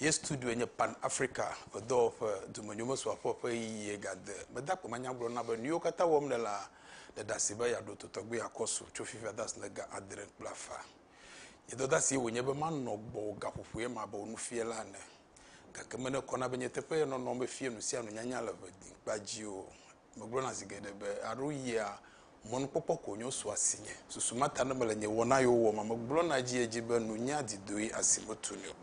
Ye studioe nye Pan Africa, edɔwɔƒe, dumenyomesrɔ̃aƒe ƒe ɣeyiɣie gade. Mede akpe manya gblɔ na be nuyiwo katã wɔm nèlea, ɖe ɖeasi be yeaɖo to tɔgbi akɔ su tso fifia de asi le ga adre kple afã. Nye dɔdeasie wònye be manɔ gbɔwò gaƒoƒoe ma abe wò nufiala ene. Gake menekɔna be nye teƒe ye nɔnɔ mefie nusianu nyanya le ʋe diŋkpa dzi o. megblɔna zi geɖe be, Alo yia mɔnukpɔkpɔ ko nyo so asinye. Susu ma ta ne mele nye wɔna yiwo wɔm me gblɔna edziedzi be nunya didoe asi metuni o.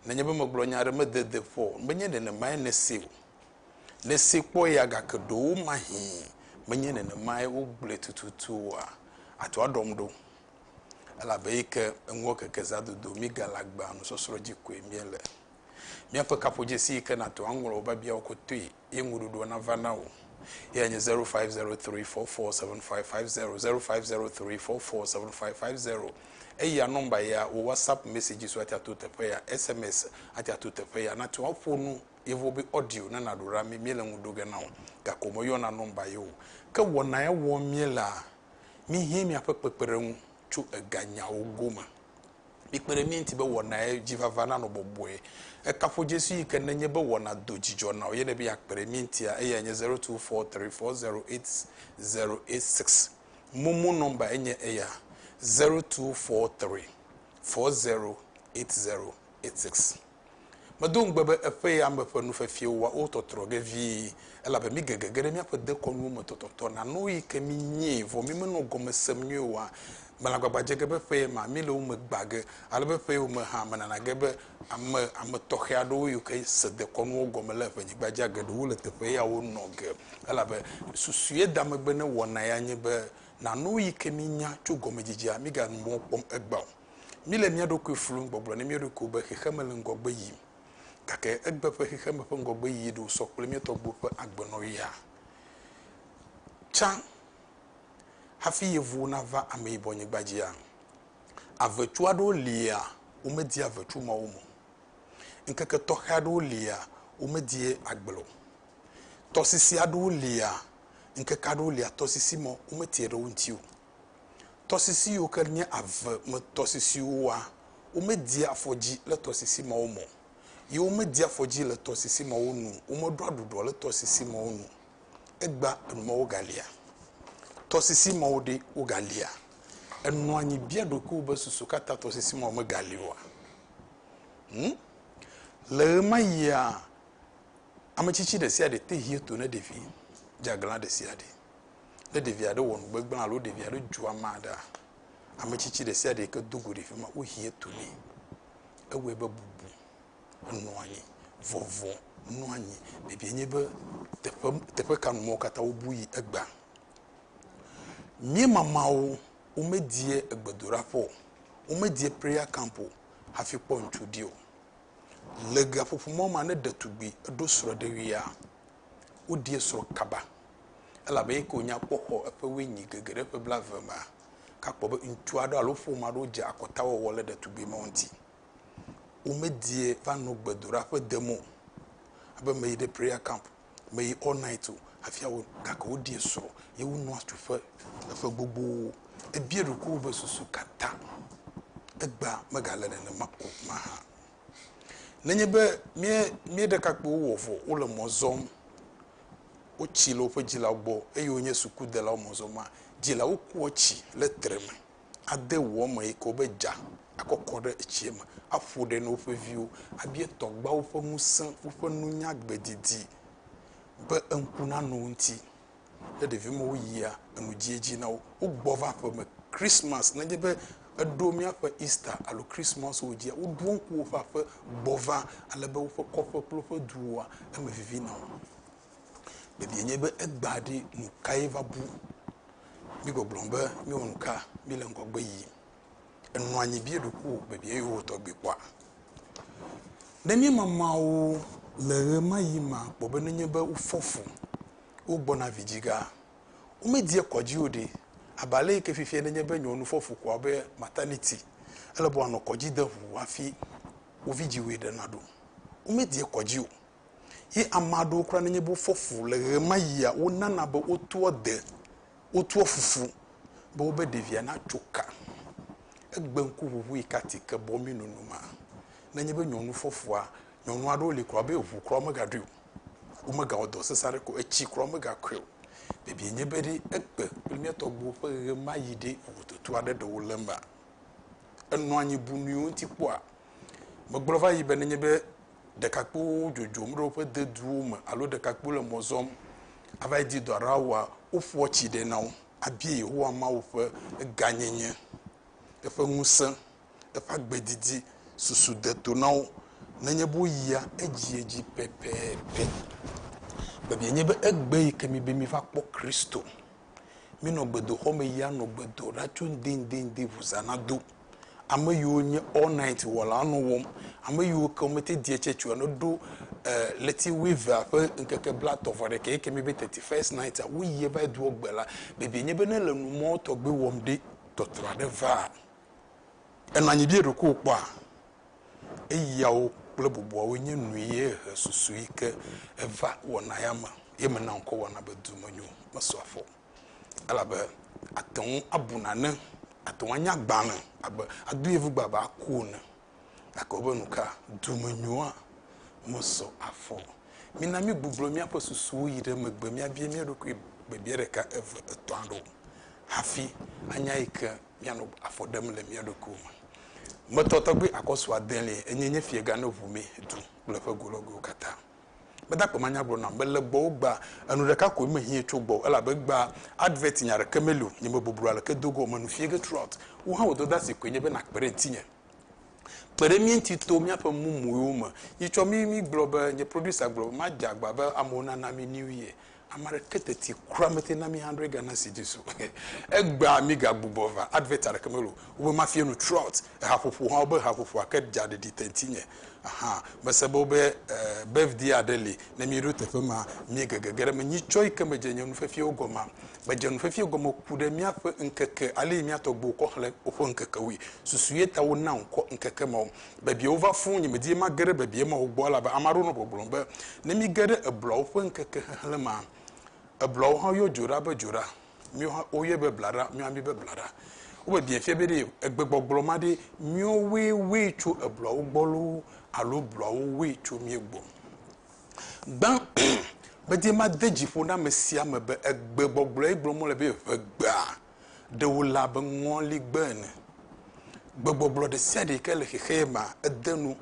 Nenye be megblɔ nya aɖe mede de ƒo o, menye nenemae nèsee o. Nèsee kpɔ ya gake ɖewomahĩ menye nenemae wogblɔe tututu oa? Àto aɖɔm ɖo? Elabe eyi ke eŋua keke zã dodo mí gale agbea nusɔsrɔ̃ dzi koe míele. Míaƒe kaƒodzesi yi ke nàto aŋlɔ wò biabiawo kotoe ye ŋuɖuɖua nava na wò. Eyae nye 0503447550, 0503447550. Eya nɔmba ya, wò WhatsApp messages ate ato teƒe ya, SMS ate ato teƒe ya. Nate ŋu aƒo nu yevuwo be audio ne nàɖo ɖa mí, míele ŋu ɖo ge na wò, gake womeyɔna nɔmba ye o. Ke wɔna ya wɔm míelea, míhiã míaƒe kpekpeɖeŋu tso eganyawo gome. Mikpe ɖe mía ŋuti be wɔnae dzi vava nanɔ bɔbɔe. Ekafu Jesu yi ke nenye be wɔna do dzidzɔ na wò ye ne be yeakpe ɖe mía ŋutia. Eyae nye zero two four three four zero eight zero eight six. Momo nɔmba enye eya zero two four three four zero eight zero eight six. Medo ŋugbe be eƒe yame ƒe nufefiwo wɔa wo tɔtrɔ ge vie, elabe mígege ge ɖe míaƒe dekɔnuwo me tɔtɔtɔ na nu yi ke mínyee, vɔ mímenɔ gɔme sem nyuie oa? Mele agbagba dze ge be ƒeye ma, míele wo me gbã ge, ale be ƒeyewo me hã, menana ge be ame, ame tɔxɛ aɖewo yiwo ke se dekɔnuwo gɔme le ƒenyigbaa dzia geɖewo le teƒe yawo nɔ ge. Elabe susue da megbe ne wɔna ya nye be, na nu yi ke míenya tso gɔmedidea, míganu mɔ kpɔm egbea o. Míle mía ɖokui flum gbɔgblɔ na mía ɖokuiwo be xexeme le ŋgɔgbe yim. Gake egbe ƒe xexeme ƒe ŋgɔgbeyiyi ɖe wòsɔ kple mía tɔgbuiwo ƒe agbenɔɣia? Tsã hafi yevuwo nava ameyibɔnyigba dzia? Avetu aɖewo lia womedie avetu mawo me o. Ŋkeke tɔxɛ aɖewo lia womedie agble o. Tɔsisi aɖewo lia ŋkeke aɖewo lia tɔsisi ma wometie ɖe wo ŋuti o. Tɔsisi yiwo ke nye ave me tɔsisiwoa, womedea afɔdzi le tɔsisi mawo me o, ye womedea afɔdzi le tɔsisi mawo nu o, womeɖɔa ɖuɖɔ le tɔsisi mawo nu o. Egbea enu mawo galia? Tɔsisi mawo ɖe, wogalia? Ènɔ anyi bia ɖokuiwò be, Susu ka ta tɔsisi mawo megali oa? Hm? Le ɣemaɣia, ametsitsi ɖesiaɖe te hia to na ɖevi dzeaglã ɖesiaɖe. Ne ɖevi aɖe wɔ nu gbegblẽ alo ɖevi aɖe dzu ame aɖea, ame tsitsi ɖe sia ɖe yi ke do go ɖe fi ma, wohia etu nɛ. Ewɔe be bubu enɔ anyi, vɔvɔ nɔ anyi. Biabiae nye be, teƒe, teƒe ka nu mewo katã wobu yi egbea? Mía mamawo womedie egbedoɖaƒe o, womedie prayer camp o hafi kpɔ ŋutsu ɖi o. Le gaƒoƒo ma me ne ɖetugbi eɖo srɔ̃ɖeɣia, woɖie srɔ̃ kaba elabe eye ke wònya kpɔ xɔ eƒe wenyui gege ɖe ƒe blaeve mea, gakpɔ be ŋutsu aɖewo alo ƒome aɖewo dze akɔtawɔwɔ le ɖetugbui mawo ŋuti. Womedie va nɔ gbedoɖa ƒe dem o, abe meyi ɖe prayer camp, meyi all night o hafi awɔe o, gake woɖie srɔ̃ ye wonɔ atsu ƒe eƒe gbogbowo. Ebia ɖokuiwò be susu ka ta egbea megale nenema o mahã. Nenye be mía mía ɖekakpuiwo wɔ vɔ, wole mɔ zɔm, wotsi le woƒe dzilawo gbɔ eye wonye sukudelawo mɔzɔmɔa, dzilawo kua tsi le tre me ade ʋua me yi ke wobe dza akɔkɔ ɖe etsia me aƒo ɖe na woƒe viwo. Abia tɔgbeawo ƒe ŋusẽ, woƒe nunya gbedidi be eŋku nanɔ wo ŋuti. Ne ɖevi mewo yia enu dziedzi na wo, wogbɔ va aƒe me. Christmas, nenye be eɖo míaƒe Easter alo Christmas wo dzia, woɖo ŋku woƒe aƒe gbɔ va ale be woƒe kɔƒe kple woƒe duwoa, eme vivi na wo. Biabia nye be egbea ɖi nu kae va bu? Mígbɔgblɔ be míewɔ nu ka? Míle ŋgɔgbe yiyim. enɔ anyi bia eɖokui wò be bia yewo tɔgbi kpɔa? Ne míema Mawu le ɣemaɣi ma kpɔ be nenye be wofɔ fu, wogbɔna vidzigã, womedia kɔdzi o ɖe, abe ale yi ke fifia nenye be nyɔnu fɔ fu koa be maternity, ele be wòanɔ kɔdzi de ŋu hafi wo vidziwoe ɖe naɖo. Womedia kɔdzi o. Ye ame aɖewo kura nenye be wofɔ fu le ɣemaɣia, wonana be wotoa de, wotoa fufu be wobe ɖevia natso ka. Egbe ŋkuʋuʋui ka ti ke bɔ mí nunu ma. Nenye be nyɔnu fɔ fua, nyɔnu aɖewo li kura be ŋu kura womegaɖui o. Womegawɔ dɔ sesẽ aɖeke o, etsi kura womegakui o. Biabiae nye be ɖe egbe kple mía tɔgbuiwo ƒe ɣemaɣi ɖe vovototo aɖe ɖe wole emea? Enɔa anyi bu nuyiwo ŋuti kpɔa? Megblɔ va yi be nenye be ɖekakpuiwo dzodzom ɖe woƒe deduwo me alo ɖekakpuiwo le mɔ zɔm ava yi di dɔ aɖe awɔa, woƒoa tsi ɖɛ na wo abia Yehowa Mawu ƒe gãnyenye, eƒe ŋusẽ, eƒe agbe didi. Susu de to na wo nenye be woyia edziedzi pɛpɛpɛ. Biabiae nye be, Egbe yi ke mibe miva kpɔ Kristo? Mi nɔ gbedoxɔ me yia nɔ gbe do ɖa tso ŋdinŋdinŋdi ŋu zã na do. Ame yiwo nye all night wɔlawo nɔ wɔm. Ame yiwo ke wome te diɛ tsɛ tsoe ne ɖo ɣleti wuievea ƒe ŋkeke blatɔ vɔ ɖekɛ yike mi be thirty first night a, wo yie va yi doɔ gbe la. Bibie nye be ne le nu mɔ tɔgbe wɔm ɖe, tɔtrɔ aɖe vaa. Enɔ anyi be yeɖokuiwò kpɔa? Eyawo kple bubuawoe nye nuye he susu yi ke eva wɔna ya me, ye mena ŋkɔ wɔna be dumenyo mesɔ afɔ o. Elabe àte ŋu abu nane, àte ŋu anye agbalẽ abe ado yevugbe abe aku ene. Gake wobe nu ka? Dumenyoa mesɔ afɔ o. Mina mígbuglɔ míaƒe susuwo yi ɖe megbe míabia mía ɖokui biabia ɖeka, eve, etɔ̃ aɖewo hafi anya yi ke míanɔ afɔ ɖem le mía ɖokuiwo me. Me tɔ tɔgbi akɔsu adelia enye nye fiega ne ʋu mɛ du kple eƒe golɔguiwo katã. Meda kpema nya gblɔ nam mele gbɔ wo gbaa enu ɖeka koe me hiɛ tso gbɔ elabe egbaa advert nya ɖeke meli o nye me boblo aleke dogo o me nu fiege throughout wo hã wo dɔdasi koe nye be na kpe ɖe ŋtinye. kpe ɖe mí ŋuti to míaƒe mumuiwo me. Yi tsɔ mí mígblɔ be, nye producer gblɔ be madze agba be amewo nana mí New Year. Ame aɖeke teti kura mete na mí hundred Ghana cedis o. Egbea mígagbugbɔ va, advert aɖeke mele o. Wobe mafiẽ nu throughout. Ehaƒoƒo hã, wobe ehaƒoƒoa ke dza ɖeɖi te ŋutinye. Aha, mese be wobe birthday aɖe li, ne míeɖo teƒe ma, míege gege ɖe eme. Nyitsɔ yi ke medze nye nufiafiawo gɔmea? Medze nufiafia gɔme ku ɖe míaƒe ŋkeke, ale yi mía tɔgbuiwo kɔ xlẽ woƒe ŋkekewoe. Susuye ta wona ŋkɔ ŋkeke mawo. Bebiawo va fũ, nyemedi be mage ɖe bebia mawo gbɔ o, elabe ame aɖewo nɔ gbɔgblɔm be, ne míge ɖe ebluawo ƒe ŋkeke xexlẽ mea, ebluawo hã yɔ dzo ɖa be dzoɖa. Míwo hã woyɔe be blaɖa, míwo hã míebe blaɖa. Wome biãe fia be ɖe egbegbɔgblɔ ma ɖe míwowoe woe tso ebluawo gbɔ loo alo bluawo woe tso mía gbɔ o. Gbã, medi made dzi ƒo na ame sia ame be egbegbɔgblɔe gblɔm wole be ʋegbea ɖe wòle abe ŋɔligbe ene. Gbegbɔgblɔ ɖe sia ɖe yi ke le xexea mea, edea nu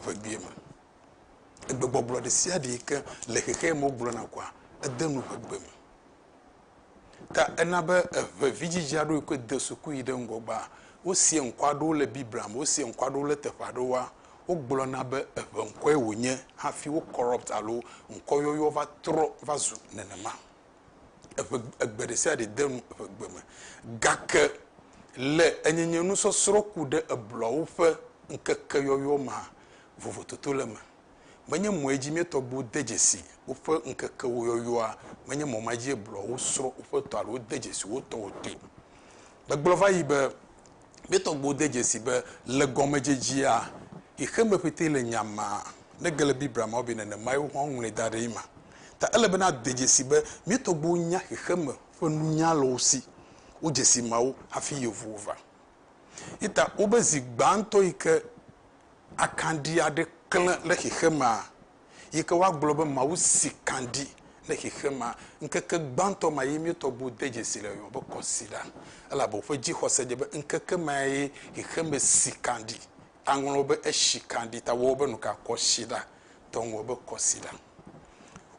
ʋegbee me. Egbegbɔgblɔ ɖe sia ɖe yi ke le xexea me wogblɔna koa, edea nu ʋegbee me. Ta ena be eʋe vidzidzea ɖo yi koe de suku yi ɖe ŋgɔ gbaa. Wosia ŋkɔ aɖewo le Biblia me, wosia ŋkɔ aɖewo le teƒe aɖewoa, wogblɔna be eʋe ŋkɔe wònye hafi wo corrupt alo ŋkɔyɔyɔ va trɔ va zu nenema. Eʋe egbe ɖe sia ɖe de nu eʋe gbe me. Gake le enyenyenu sɔsrɔ̃ ku ɖe eblɔawo ƒe ŋkekeyɔyɔ mea, vovototo le eme. Menye mɔe dzi mía tɔgbuiwo de dzesi woƒe ŋkekewo yɔyɔa, menye mɔ ma dzie blɔ wosrɔ̃ woƒe tɔ alo wode dzesi wo tɔwo toe. Megblɔ va yi be, mía tɔgbuiwo de dzesi be le gɔmedzedzea xexeme ƒetee le nya ma, ne ge le Biblia me be nenemae wo hã woŋlɔe da ɖee ma. Ta ele be nade dzesi be mía tɔgbuiwo nya xexeme ƒe nunya le wo si, wodze si mawo hafi yevuwo va. Ye ta wobe zi gbãtɔ yi ke akanɖi aɖe klẽ ɖe xexemea, yi ke woagblɔ be Mawu si kanɖi ɖe xexemea. Ŋkeke gbãtɔ ma ye mía tɔgbuiwo de dzesi le yɔyɔ be kɔsiɖa, elabe woƒe dzixɔse dze be ŋkeke mae xexeme si kanɖi. Aŋlɔwo be esi kanɖi ta woawo be nuka? Kɔsiɖa. Tɔ ŋlɔ be kɔsiɖa.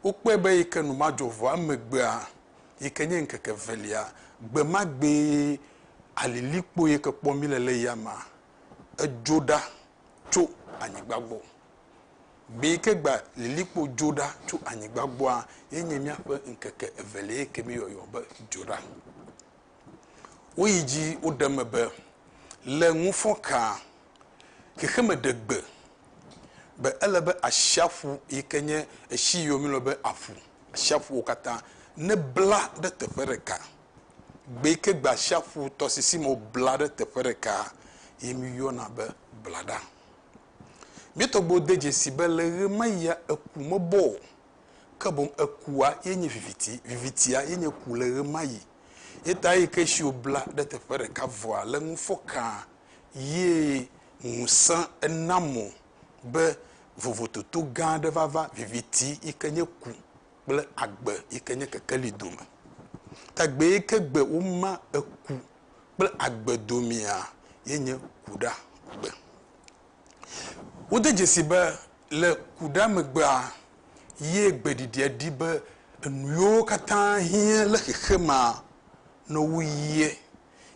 Wokpɔe be yi ke nu ma dzɔ vɔa, emegbea, yi ke nye ŋkeke evelia, gbe ma gbee alilikpo yi ke kpɔm míele le yamea edzo ɖa tso anyigba gbɔ. Gbe yi ke gba lilikpo dzo ɖa tso anyigba gbɔa ye nye míaƒe ŋkeke evelia yi ke míeyɔyɔ be dzoɖa. Woyi dzi woɖe eme be le ŋufɔkaa xexeme ɖe gbe be ele be asiaƒu yi ke nye etsi yiwo míeyɔna be aƒu, asiaƒuwo katã nebla ɖe teƒe ɖeka. gbe yi ke gbe atsiaƒu tɔsisi me wobla ɖe teƒe ɖeka ye míyɔna be blaɖa. Míetɔ gbe wode dzesi be le ʋe ma ɣia eku mebɔ o, ke boŋ ekua ye nye viviti, vivitia ye nye ku le ʋe ma ɣi. Ye ta eyi ke tsi wobla ɖe teƒe ɖeka vɔa le ŋu fɔ kãa ye ŋusẽ ena mo be vovototo gã aɖe vava, viviti yi ke nye ku kple agbe yike nye kekeli dome. Tagbe yike gbe woma eku kple agbe domea ye nye kuɖagbe. Wode dzesi be le kuɖa megbea ye gbeɖiɖia ɖi be enuyiwo katã hiã le xexemea ne wo yie.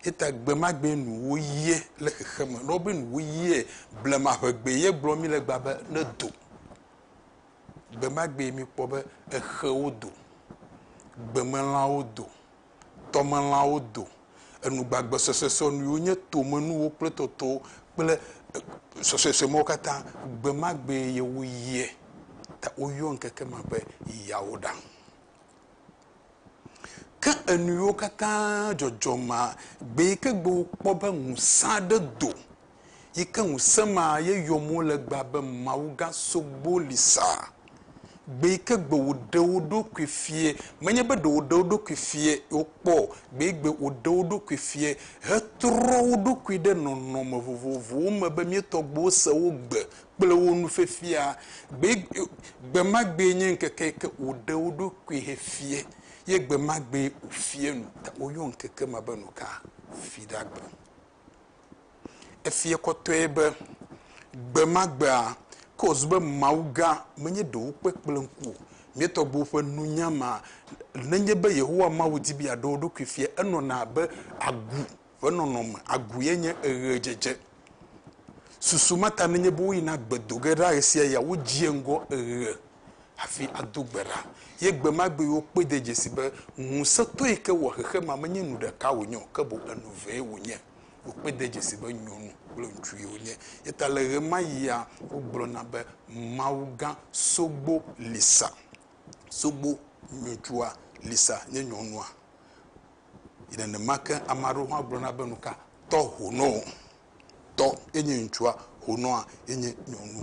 Yeta gbe ma gbee nu wo yie le xexeme. Ne wobe nu wo yie blema ʋegbe ye gblɔ mí le egbea be ne do. Gbemagbee míkpɔ be exewo do, gbemelãwo do, tɔmelãwo do, enu gbagbe suesuesue nuyiwo nye tomenuwo kple totowo kple suesuesue mawo katã, gbemagbee ye woyiɛ. Ta woyɔ ŋkeke ma be Yawuɖaŋ. Ke enuyiwo katã dzɔdzɔ ma gbee ke gbe wokpɔ be ŋusẽ aɖe do, yi ke ŋusẽ ma ye yɔm wole gbea be Mawu gã sogbo li sa. Gbee ke gbe woɖe wo ɖokui fiɛ, menye be ɖe woɖe wo ɖokui fiɛ wokpɔ o, gbee gbe woɖe wo ɖokui fiɛ hetrɔ wo ɖokui ɖe nɔnɔme vovovowo me be mía tɔgbuiwo se wo gbe. kple wo nu fifia. Gbe, gbe ma gbee nye ŋkeke yi ke wòɖe wo ɖokui hefie, ye gbe ma gbee wòfie nu. Woyɔ ŋkeke ma be nuka? Fiɖagbe. Efie kɔtɔe be gbe ma gbea, ke wòzu be Mawu gã menye ɖe wokpɔe kple ŋku o. Mía tɔgbuiwo ƒe nunya ma, nenye be Yehowa Mawu di be yeaɖe wo ɖokui fia, enɔna abe agu ƒe nɔnɔme agboe nye eɣedzedze. Susu ma ta nenye be woyina gbe do ge ɖa ɣesiaɣia, wodzia ŋgɔ eɣe hafi ado gbe ɖa, ye gbe ma gbee wokpɔe de dzesi be ŋusẽtɔ yi ke wɔ xexemea menye nu ɖeka wònye o, ke boŋ enu evee wònye. Wokpɔe de dzesi be nyɔnu kple ŋutsue wonye. Eya ta le ɣemaɣia wogblɔna be mawugã sogbo li sa. Sogbo, ŋutsua, li sa nye nyɔnua. yi nenema ke ame aɖewo hã gblɔna be nuka tɔ honɔ tɔ enye ŋutsua honɔa enye nyɔnu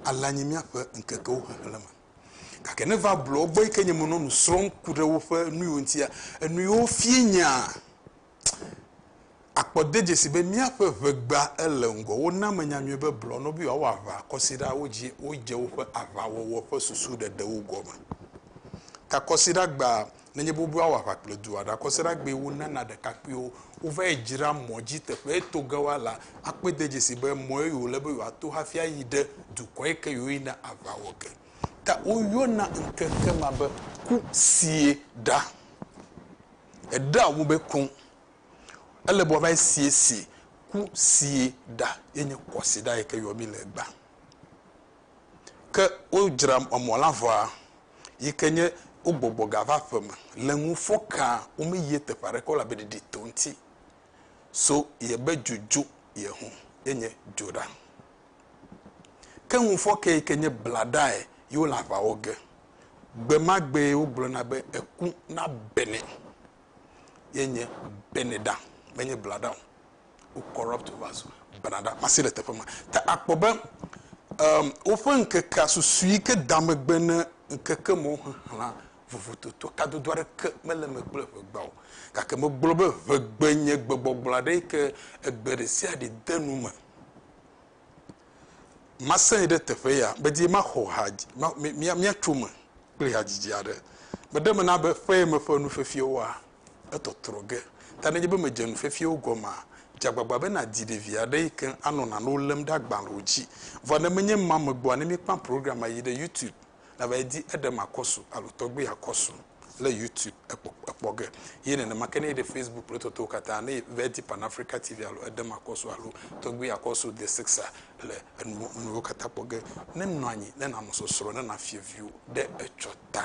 alea nye míaƒe ŋkekewo xexleme gake ne va blɔ gbɔ yi ke nye menɔ nu srɔ̃m ku ɖe woƒe nuyiwo ŋutia enuyiwo fie nyaa Akpɔ dedzesi be míaƒe ʋe gbea ele ŋgɔ. Wona menya nyuie be blɔ nɔ be yewoawɔ aʋa kɔsiɖawo dzi wodze woƒe aʋawɔwɔ ƒe susu ɖeɖewo gɔme. Ta kɔsiɖa gbea nenye be woawɔ aʋa kple du aɖe, akɔsiɖa gbee wonana ɖekakpuiwo. Wova yi dzra mɔ dzi teƒe to ge woala akpɔe de dzesi be mɔ ye wòle be yewoato hafi ayi ɖe dukɔ yi ke yewoyina aʋa wɔ ge. Ta woyɔna ŋkeke ma be ku sie ɖa. Eɖea ŋu be ku. Ele be wòava esiesie ku sie ɖa ye nye kɔsiɖa yi ke yɔ mí le egbea. Ke wodzra emɔ la vɔa, yi ke nye wogbɔgbɔ ga va aƒeme le ŋu fɔ kaa, womeyie teƒe aɖeke o elabe ɖiɖi to eŋuti. So ye be dzo dzo ye ŋu ye nye dzo ɖa. Ke ŋufɔke yi ke nye blaɖae ye wole aʋa wɔ ge. Gbe ma gbee wogblɔna be eku nabe nɛ. ye nye Beneda, menye Blada o. Wo corrupt wo va zu Benada. Masi le teƒe ma. Ta akpɔ be um, woƒe ŋkekea susu yi ke da megbe ne ŋkeke mawo xexlẽa vovototo kadodo aɖeke mele eme kple ʋegba o. Gake megblɔ be ʋegbe nye gbegbɔgblɔ aɖe yi ke egbe ɖe sia ɖe de nu me. Masẽ yi ɖe teƒe ya. Medi maxɔ ha, míatso eme kple hadzidzi aɖe. Meɖe me na be ƒee me ƒe nufefiawoa, etɔtrɔ ge. Ta nenye be mèdze nufefiawo gɔmea, dze agbagba be nàdi ɖevi aɖe yi ke anɔ nanewo lém ɖe agbalẽwo dzi. Vɔ ne menye ema megbɔa, ne míekpã programma yi ɖe YouTube. Nava edi eɖe makɔsu alo tɔgbi akɔsu le YouTube ekpɔ ekpɔ ge. Ye nenema ke ne eɖe Facebook kple totowo katã ne va edi Pan Africa TV alo eɖe makɔsu alo tɔgbi akɔsu The Sixer le enu nuwo katã kpɔ ge. Ne nɔ anyi ne nanɔ sɔsrɔ̃ ne nafiɔ viwo ɖe etsɔ ta.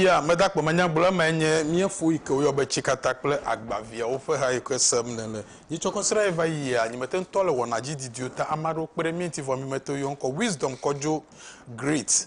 Ya medakpɔ manyagblɔ emae nye míefo yi ke woyɔ be tsikata kple agbaviawo ƒe ha yi ke sem nèle. Yi tsɔ kɔsiɖa ye va yia, nyi mete ŋutɔ le wɔna dzi didiwo ta ame aɖewo kpe ɖe mía ŋuti vɔ mí mete ŋu yɔ ŋkɔ Wisdom kɔ dzo Great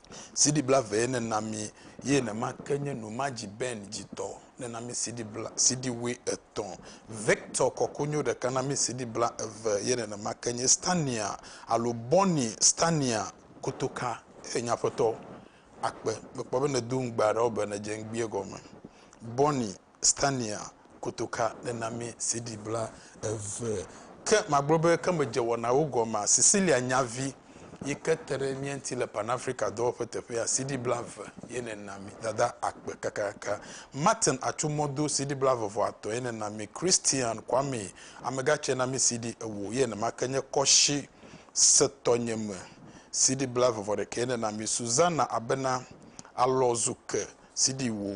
CD blave ye nena mi ye nema ke nye nu ma dzi Ben dzi tɔ nena mi CD bla CD wui etɔ̃ Victor kɔkonyo ɖeka na mi CD bla eve ye nenema ke nye Stania alo Bonnie Stania kotoka e nye aƒetɔ akpe mekpɔ be ne do ŋugbe aɖewo be ne dze ŋgbie gɔme Bonnie Stania kotoka ɖe na mí CD bla eve. Ke magblɔ be ke medze wɔnawo gɔmea? Cecilia Nyavi yi ke te ɖe mía ŋuti le Pan Africa dɔwɔƒe teƒea, CD bla eve ye nèna mí. Dada akpe kakaka. Martin Atsumɔdo, CD bla eve vɔ atɔ̃ ye nèna mí. Christian Kwame, Amegatsia na mí CD ewo ye nenema ke nye Kɔshi se tɔnye me, CD bla eve vɔ ɖekɛ ye nèna mí. Susanna Abena, Alɔ zu ke, CD wo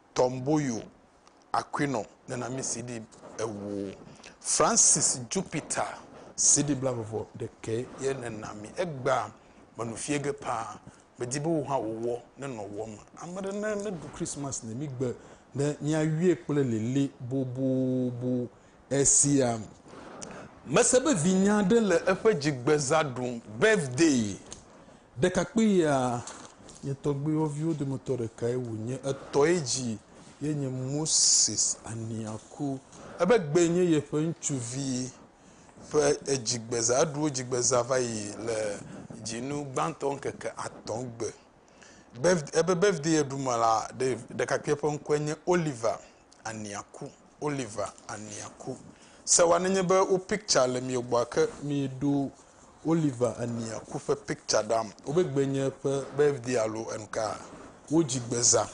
Tomboyo Aquino nena mí CD ewo. Francis Jupiter CD blaveve ɖekɛ ye nena mí. Egbea menu fiɛ ge paa. Medi be wò hã wò wɔ ne nɔ wɔ me. Ame ɖe ne ne ɖu Christmas ne mí gbe ne mía yɔɛ kple lili bobobo esia. Mese be vinya ɖe le eƒe dzigbeza ɖum, birthday. Ɖekakpuia, nye tɔgbuiwo viwo dometɔ ɖekae wònye. Etɔe dzi ye nye Moses Aniaku. Ebe gbee nye yeƒe ŋutsuvi ƒe edzigbeza. Eɖu edzigbeza va yi le dzinu gbãtɔ ŋkeke atɔ̃ gbe. Birth, ebe birthday ye ɖu me la, ɖe, ɖekakpuia ƒe ŋkɔe nye Oliver Aniaku, Oliver Aniaku. Se wane nye be wo picture le mio gbɔ ke mi ɖo Oliver Aniaku ƒe picture ɖam. Wobe gbe nye ƒe birthday alo enuka. Wo dzi gbe za.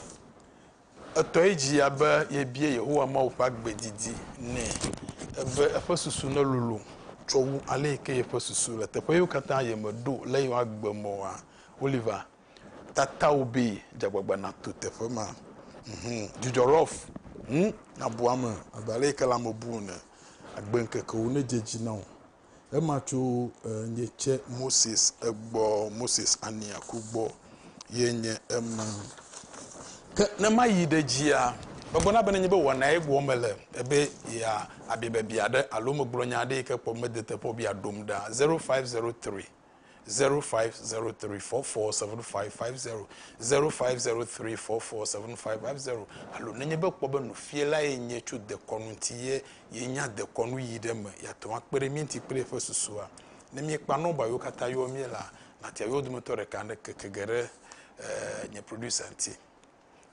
Etɔ yi dzi ya be ye bie Yehowa Mawu ƒe agbe didi nɛ. Ebe eƒe susu ne lolo tsɔ wu ale yi ke ye ƒe susu le. Teƒe yiwo katã ye me ɖo le ye agbe mɔa. Oliver. tatao be dzagbagba nato teƒe ma. Mhum, dzudzɔ rough. Ŋu nabu ame abe ale yike lãme bu ene. Agbe ŋkekewo nedze edzi na wò. Ema tso nye tse Moses egbɔ, Moses ania ku gbɔ ye nye ema. Ke ne mayi ɖe dzia, megblɔna be nenye be wɔna ye gbɔ mele, ebe ya abia biabia ɖe alo megblɔ nya aɖe yike kpɔ mede teƒe o be ya ɖom ɖa. 0503. zero five zero three four four seven five five zero zero five zero three four four seven five five zero alo nenye be kpɔ be nufiala ye nye tso dekɔnu ŋuti ye yenya dekɔnu yi ɖe me yeate ŋu akpe ɖe mí ŋuti kple eƒe susua. Ne míekpa nɔmba yiwo katã yɔ mí la, nàtia yewo dometɔ ɖeka ne keke ge ɖe eh, nye producer ŋuti.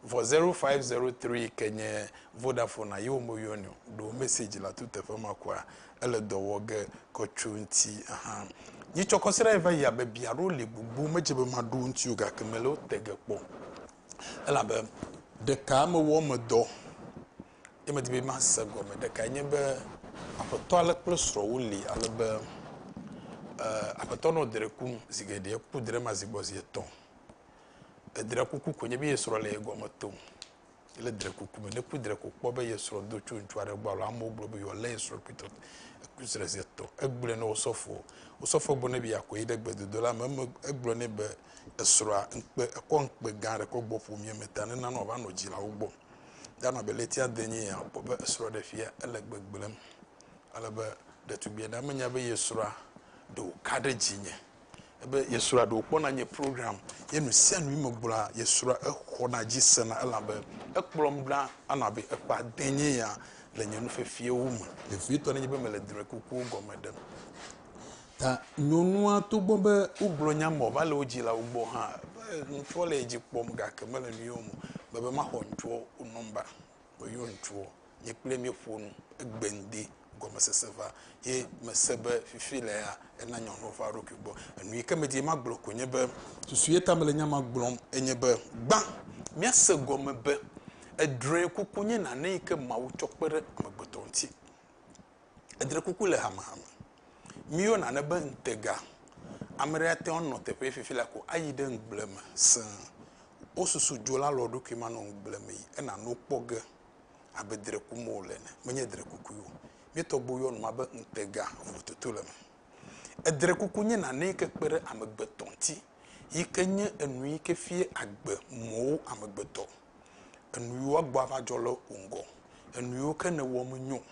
vɔ zero five zero tri ke nye vodafone a yewo me yɔni o ɖo message la to teƒe ma kɔa ele dɔ wɔ ge kɔ tso ŋti ahan nyi tsɔ kɔ srã yi va yi abe bia ɖo le gbogbo me dze be ma ɖo ŋti o gake me le wo te ge kpɔ elabe ɖeka me wɔ me dɔ ye me di be ma se gɔme ɖeka nye be aƒetɔ ale kple srɔ wo le ale be eh, aƒetɔ nɔ dre kum zigeɖe ku dre ma zigbɔ zi etɔn Edre kuku ko nye be ye srɔ̃ le ye gɔme tom. Ele dre kuku me. Ne ku dre ko kpɔ be ye srɔ̃ do tso ŋutsu aɖe gbɔ alo amewo gblɔ be yewoalé ye srɔ̃ kpli tɔ eku srɔ̃ zi etɔ̃. Egblɔe na osɔfoɔ. Osɔfoɔ gblɔ nɛ be yeakɔ yi ɖe gbedodo la me. Eme egblɔ nɛ be esrɔ̃a ŋkpe ekɔ ŋkpe gã aɖe kɔ gbɔ ƒomea me ta nenana wòava nɔ dzilawo gbɔ. Ɖe anɔ abe ɣleti ade enye ya akpɔ be esrɔ̃ ɖe fia ele gbegblẽm ale be ɖetugbia ɖe menya be ye srɔ̃a ɖe wòka ɖe dzinye ebe yesrɔ̃a ɖewo kpɔna nye program ye nu sia nu me gblɔa yesrɔ̃a exɔna dzi sena elabe ekplɔm ɖa anɔ abe ekpa de nye ya le nye nufefiawo me vevitɔ nenye be mele drɔ̃ekukuwo gɔme ɖem ta nyɔnua togbɔ be wogblɔ nya me wòva le wo dzilawo gbɔ hã be ŋutsua le edzi kpɔm gake mele nu yɔm be be maxɔ ŋutsua wo nɔmba meyɔ ŋutsua nye kple míeƒo nu, egbe ŋdi gɔmesese va ye mese be fifi le ya ena nya ŋlɔ va eɖokui gbɔ. Enu yi ke medi magblɔ koe nye be susu ye ta mele nya ma gblɔm enye be gbã míase gɔme be edrɔekuku nye nane yi ke Mawu tsɔ kpe ɖe amegbetɔ ŋuti. Edrɔekuku le hamehame. Míeyɔna nane be ŋutega. Ame aɖe ate ŋu anɔ teƒe ye fifi la ko ayi ɖe ŋugble me sẽe. Wosusu dzo la le wo ɖokui me anɔ ŋugble me yi ena nu kpɔ ge. abe dre kum wòle ene. Menye dre kukue o. Mía tɔgbuiwo yɔ nua be ŋutega vovototo le eme. Edre kuku nye nane yi ke kpe ɖe amegbetɔ ŋuti yi ke nye enu yi ke fia agbe mɔwo amegbetɔ. Enu yi woagbɔ ava dzɔ le wò ŋgɔ. Enu yiwo ke nèwɔ menyo o.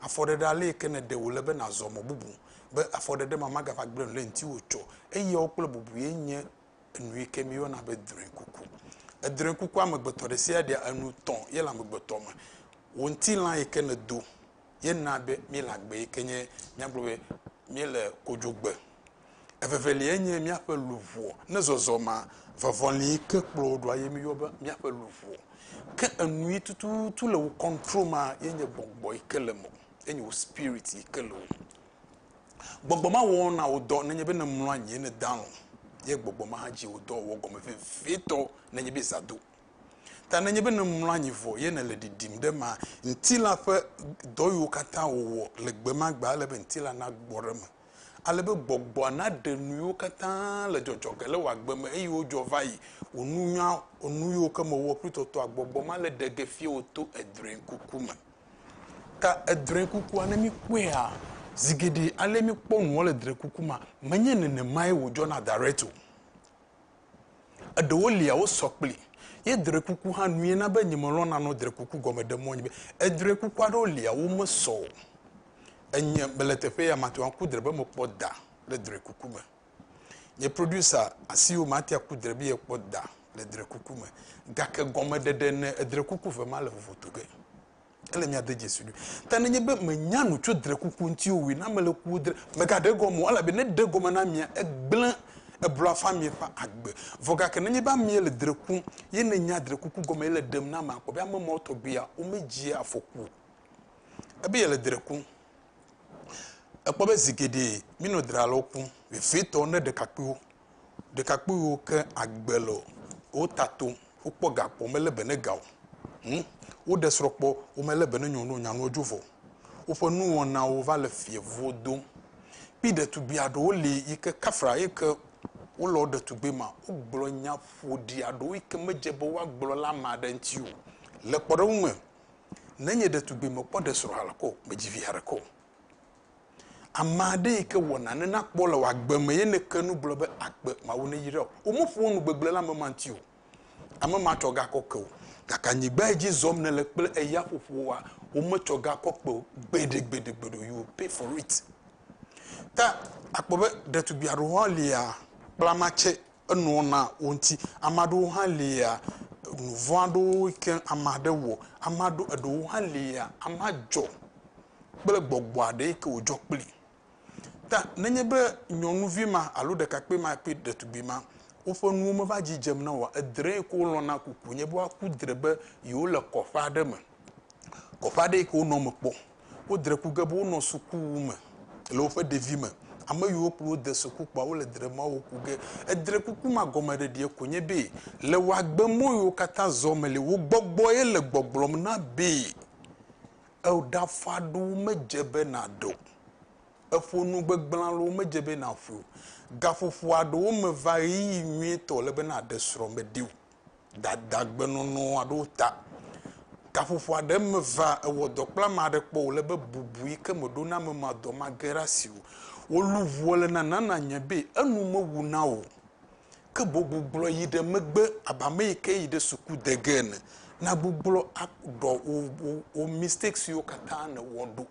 Afɔɖeɖe ale yi ke nèɖe wòle be nàzɔ mɔ bubu be afɔɖeɖe ma magava gblẽ nu ɖe ŋutiwò tsɔ. Eyawo kple bubu ye nye enu yi ke míeyɔna be drɔ̃ekuku. Edrɔ̃ekuku amegbetɔ ɖe sia ɖea enu tɔ̃ ye le amegbetɔ me. Wò ŋutilã yi ke nèdo ye naa be míele agbe yi ke nye míagblɔ be míele kodzogbe. Eveveliae nye míaƒe luʋɔ. Ne zɔzɔmea, vɔvɔli yi ke kplɔ wò ɖoa ye míeyɔ be míaƒe luʋɔ. Ke enu yi tututu le wò control mea ye nye gbɔgbɔ yi ke le mewò, ye nye wò spirit yi ke le wò me. Gbɔgbɔ ma wɔɔ na wò dɔ nenye be nèmlɔ anyi ye nède alɔ̃, ye gbɔgbɔ ma hã dzi wò dɔ wòwɔ gɔme vevitɔ nenye be zã do. Ta nenye be nèmlɔ anyi vɔ ye nèle ɖiɖim ɖe emea, ŋutilã ƒe dɔ yiwo katã wòwɔ le gbe ma gbe ale be ŋutilã nagbɔ ɖe eme, ale be gbɔgbɔa naɖe nu yiwo katã le dzɔdzɔ ge le wò agbe me, eye wodzɔ va yi wò nunya, nu yiwo ke mewɔ kpli tɔtɔa, gbɔgbɔ ma le ɖe ge fiewò to edrɔ̃ekuku me. Ta edre kukua, ne mikpɔea, zi geɖe ale mikpɔ nua le dre kuku ma, menye nenemae wòdzɔna direct o. Eɖewo lia wosɔ kpli ye dre kuku hã nue na be nyemelɔ̃na nɔ dre kuku gɔme ɖe mɔnye be edre kuku aɖewo lia womesɔ o. Enye mele teƒe ya mate ŋu aku dre be mekpɔ da le dre kuku me. Nye producer asiwo mate aku dre be yekpɔ da le dre kuku me. Gake gɔmeɖeɖe ne edre kuku ve ma le vovoto ge. Ele mia de dzesi ɖui. Ta ne nye be me nya nu tso dre kuku ŋuti o wi na me le ku dre me ga ɖe gɔme o ela be ne ɖe gɔme na mia egble eblɔ afã mia ƒe agbe. Vɔ gake ne nye be amea le dre kum ye ne nya dre kuku gɔme ye le ɖem na ma kpɔ be ame mawo tɔgbi ya wo me dzi afɔku o. Ebe yele dre kum. Èkpɔ be zi geɖe mínɔ dralɔwo kpɔm, vevitɔ ne ɖekakpuiwo. Ɖekakpuiwo ke agbe le wo ta tom. Wokpɔ ga kpɔ, womele be ne ga o. Hm, woɖe srɔ̃ kpɔ, womele be ne nyɔnu o, nyanuwo dzo vɔ. Woƒe nuwɔnawo va le fievuwo dom. Kpi ɖetugbui aɖewo li yi ke kafra eyi ke wolɔ ɖetugbui ma, wogblɔ nya ƒoɖi aɖewo yi ke medze be woagblɔ le ame aɖe ŋuti o. Le kpɔɖeŋu me, Nenye ɖetugbui mekpɔ ɖe srɔ̃ ha ko medzi vi ha ɖeke o. Ame aɖe yi ke wɔna ne nakpɔ le wò agbe me ye nèke nu gblɔ be, Agbe Mawu neyra wò. Womeƒoa nu gbegblẽ le ame ma ŋuti o. Ame ma tsɔ ga kɔ ke wò. Gake anyigba yi dzi zɔm nèle kple eya ƒoƒoa, wometsɔ ga kɔ kpe wò gbeɖegbeɖegbeɖe o. You will pay for it. Ta akpɔ be ɖetugbui aɖewo hã lia kpla matse enua na wo ŋuti. Ame aɖewo hã lia, nu vɔ̃ aɖewo yi ke ame aɖe wɔ, ame aɖewo, eɖewo hã lia, amea dzɔ kple gbɔgbɔ aɖe yi ke wòdzɔ kpli. Ta nenye be nyɔnuvi ma alo ɖekakpui ma kple ɖetugbui ma woƒe nuwo meva dzi dzem na oa, edre yi ke wolɔ̃na ku koe nye be woaku dre be yewole kɔƒe aɖe me. Kɔƒe aɖe yi ke wonɔ eme kpɔ. Wodre ku ge be wonɔ sukuwu me le woƒe ɖevime. Ame yiwo kplɔ wo de suku kpɔa wole dre mɔ wo ku ge. Edre kuku ma gɔmeɖeɖie ko nye be le wò agbe mɔ yiwo katã zɔ me li, wò gbɔgbɔe le gbɔgblɔm na be eɖafa ɖo medze be nàɖe o, eƒo nu gbegblẽ alo medze be nàƒoe o. Gaƒoƒoa ɖewo me va ɣeyiɣi nyuitɔ le be nàɖe srɔ̃meɖi o. dadagbenɔnɔ aɖewo ta. Gaƒoƒo aɖe me va ewɔ dɔ kple ame aɖe kpɔ wòle be bubu yi ke meɖo na ame ma dɔ mage ɖe asi o. Wò luʋɔ le nana nanye be enu mewu na wò o. Ke boŋ gbuglɔ yi ɖe megbe abe ame yi ke yi ɖe suku de ge ene. Na gbuglɔ aɖɔ wò wò wò mistakes siwo katã nèwɔ ɖo.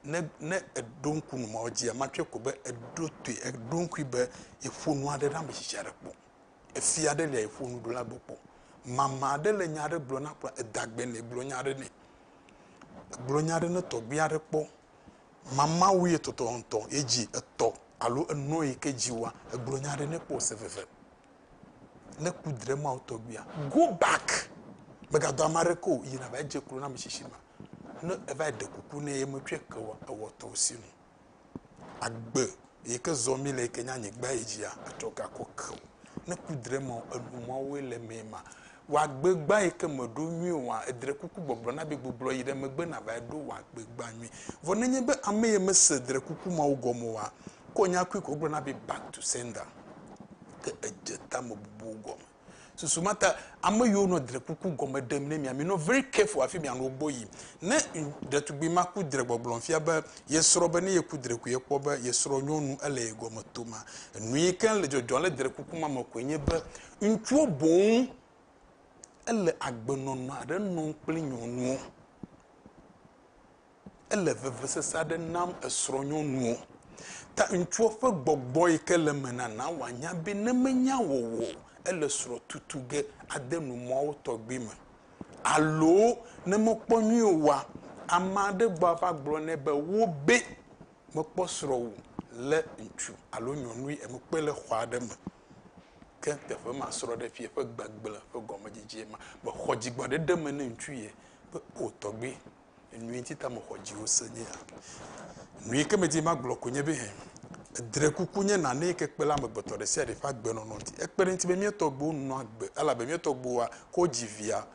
Ne ne èɖo ŋku nu ma, edzia matsɔe ko be eɖo toe eɖo ŋkui be yeƒo nu aɖe na ame tsitsi aɖe kpɔ. Efia aɖe lia yeƒo nu ɖo la gbɔ kpɔ. Mama aɖe le nya aɖe gblɔ na kpla edagbe nɛ gblɔ nya aɖe nɛ. Gblɔ nya aɖe ne tɔgbui aɖe kpɔ. Mama wu ye tɔtɔ ŋtɔ ye dzi etɔ alo enɔ yi ke dzi wa egblɔ nya aɖe ne kpɔ se veve. Ne ku dre ma wo tɔgbuia go back mega dɔ ame aɖeke o yi na va dze klo na ame tsitsi ma. Ne eva ɖe kuku ne ye me tsɔe ke wa ewɔ tɔwo si nu. agbe yi ke zɔ mi le yi ke nye anyigba yi dzia atsɔ gakɔ ke o ne ku dre me enu mawoe le mee ma wagbe gba yi ke meɖo nyui oa edre kuku gbɔgblɔ na bi gbublɔ yi ɖe megbe na va ɖo wagbe gba nyui vɔ nenye be ame yi mese dre kuku mawo gɔme oa kɔ nya kui kɔ gblɔ na bi back to sender ke edze tame bubu gɔme Susu ma ta ame yiwo nɔ drekuku gɔme ɖem ne mia, minɔ very careful hafi mianɔ wo gbɔ yim. Ne ɖetugbi ma ku dre gbɔgblɔm fia be ye srɔ̃ be ne yeku drekui ekpɔ be ye srɔ̃ nyɔnu ele ye gɔme tom a, enu yi ke le dzɔdzɔm le drekuku ma me koe nye be ŋutsuwo boŋ ele agbenɔnɔ aɖe nɔm kple nyɔnuwo. Ele vevesese aɖe nam esrɔ̃nyɔnu o. Ta ŋutsua ƒe gbɔgbɔ yi ke le eme nana wòanya be ne menya wɔwɔ o, ele srɔ̃ tutu ge ade nu mɔwo tɔgbi me. Alo ne mekpɔ nyuie oa, ame aɖe gbɔ ava gblɔ nɛ be, Wo be mekpɔ srɔ̃wò lé ŋutsu alo nyɔnui e mekpɔe le xɔ aɖe me. Ke teƒe ma srɔ̃ɖeƒia ƒe gbegblẽ ƒe gɔmedzedzee ma. Mexɔ dzigbɔɖeɖe me ne ŋutsu ye be, O tɔgbui, Enui ŋuti ta mexɔ dziwò se nye ya. Nu yi ke medi be magblɔ koe nye be hɛ, edre kuku nye nane yi ke kpe ɖe amegbetɔ ɖe sia ɖe ƒe agbenɔnɔ ŋuti. Ekpe ɖe eŋuti be mía tɔgbuiwo nɔa agbe elabe mía tɔgbuiwoa, ke wodzi via,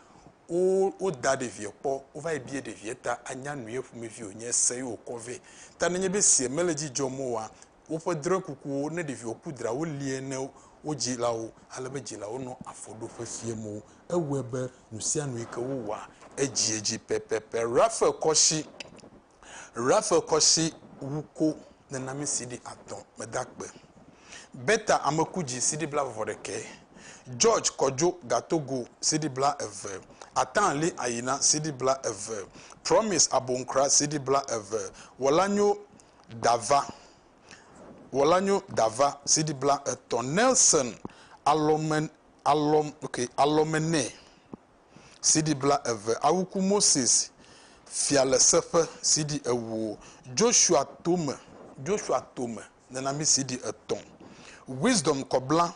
wo, woda ɖevia kpɔ, wova yi bia ɖevia ta anya nu ye ƒomevi wònye, ese ye wòkɔ vɛ. Ta nenye be esia mele edzi dzɔm oa, woƒe drɔ̃ekukuwo ne ɖeviwo ku dra wolie ne wo dzilawo ale be dzilawo nɔ afɔ ɖo ƒe fiam wo. Ewɔe be nu sia nu yi ke wowɔa edziedzi pɛpɛpɛ. Raphael kɔ si Raphael kɔ si wu ko nena mi CD atɔ̃ meda akpe. Bertha ame ku dzi CD bla vɔ ɖekɛ. George kɔ dzo ga Togo CD bla eve. Atã li ayina CD bla eve. Promise abonkra CD bla eve. Wɔla nyo Dava, Wɔla nyo Dava, CD bla etɔ, Nelson alɔme alɔm ok alɔme nɛ, CD bla eve, Awuku Moses fia le seƒe, CD ewo, Joshua tome Joshua tome nenami, CD etɔ, Wisdom kɔbla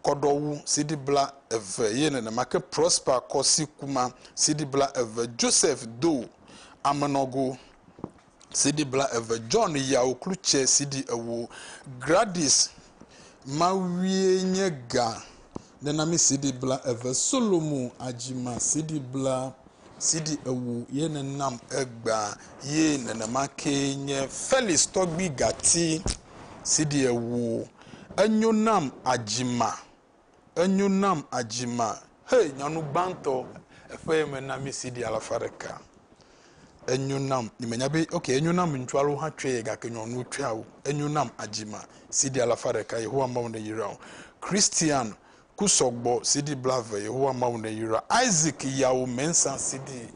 kɔɖɔwu CD bla eve ye nenema ke Prosper kɔ si kuma CD bla eve Joseph do amenɔgo CD bla eve John yawo klu tse CD ewo Gradis mawie nye ga nenami CD bla eve Solomo adzima CD bla CD ewo ye nenam egba ye nenema ke nye Felix tɔgbi gati CD ewo. Enyo nam Ajima, enyo nam Ajima, hey nyɔnu gbãtɔ eƒe me na mi CD alafa ɖeka. Enyo nam, nye menya be, ok, enyo nam ŋutsu alo hã tsɔe gake nyɔnuwo tsɔe awu. Enyo nam Ajima, CD alafa ɖeka, Yehowa Mawu neyra wò. Christian Ku sɔgbɔ CD blaeve Yehowa Mawu neyra Isaac Yawo Mensah CD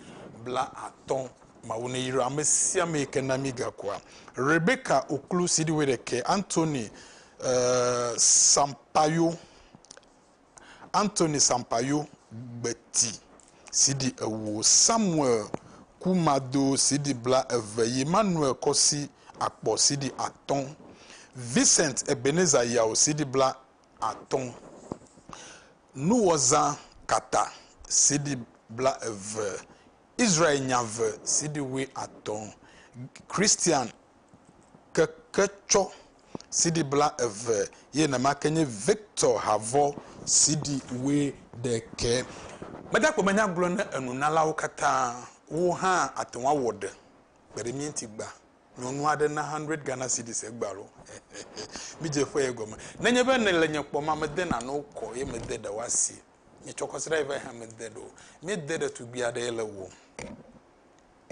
blaatɔ̃ Mawu neyra ame sia ame yi ke na mí gakua Rebecca Oklu CD wuiɖekɛ Anthony Sampayo Anthony Sampayo Gbeti CD ewo Samuel Ku Mado CD blaeve Emmanuel Kɔsi Akpɔ CD atɔ̃ Vincent Ebenezer Yawo CD bla atɔ̃. Nuwɔzã kata sidi bla eve, Israel nya ve sidi wui atɔ̃, Christian keke tsɔ sidi bla eve ye nɛma ke nye Victor Havɔ sidi wui ɖe ke. Gbadagbe me nya gblɔ ne enunalawo kata wo hã ate ŋu awɔ ɖe kpe ɖe mía ŋuti gba. Nyɔnu aɖe na hundred Ghana cedis egbe alo? Midze ƒe ye gɔme. Nenye be nèle nye kpɔm a, mede nanewo kɔ ye mede ɖewo asi. Nye tsɔkɔsira yi va yi hã mede ɖewo. Míede ɖetugbui aɖe ye le wɔm.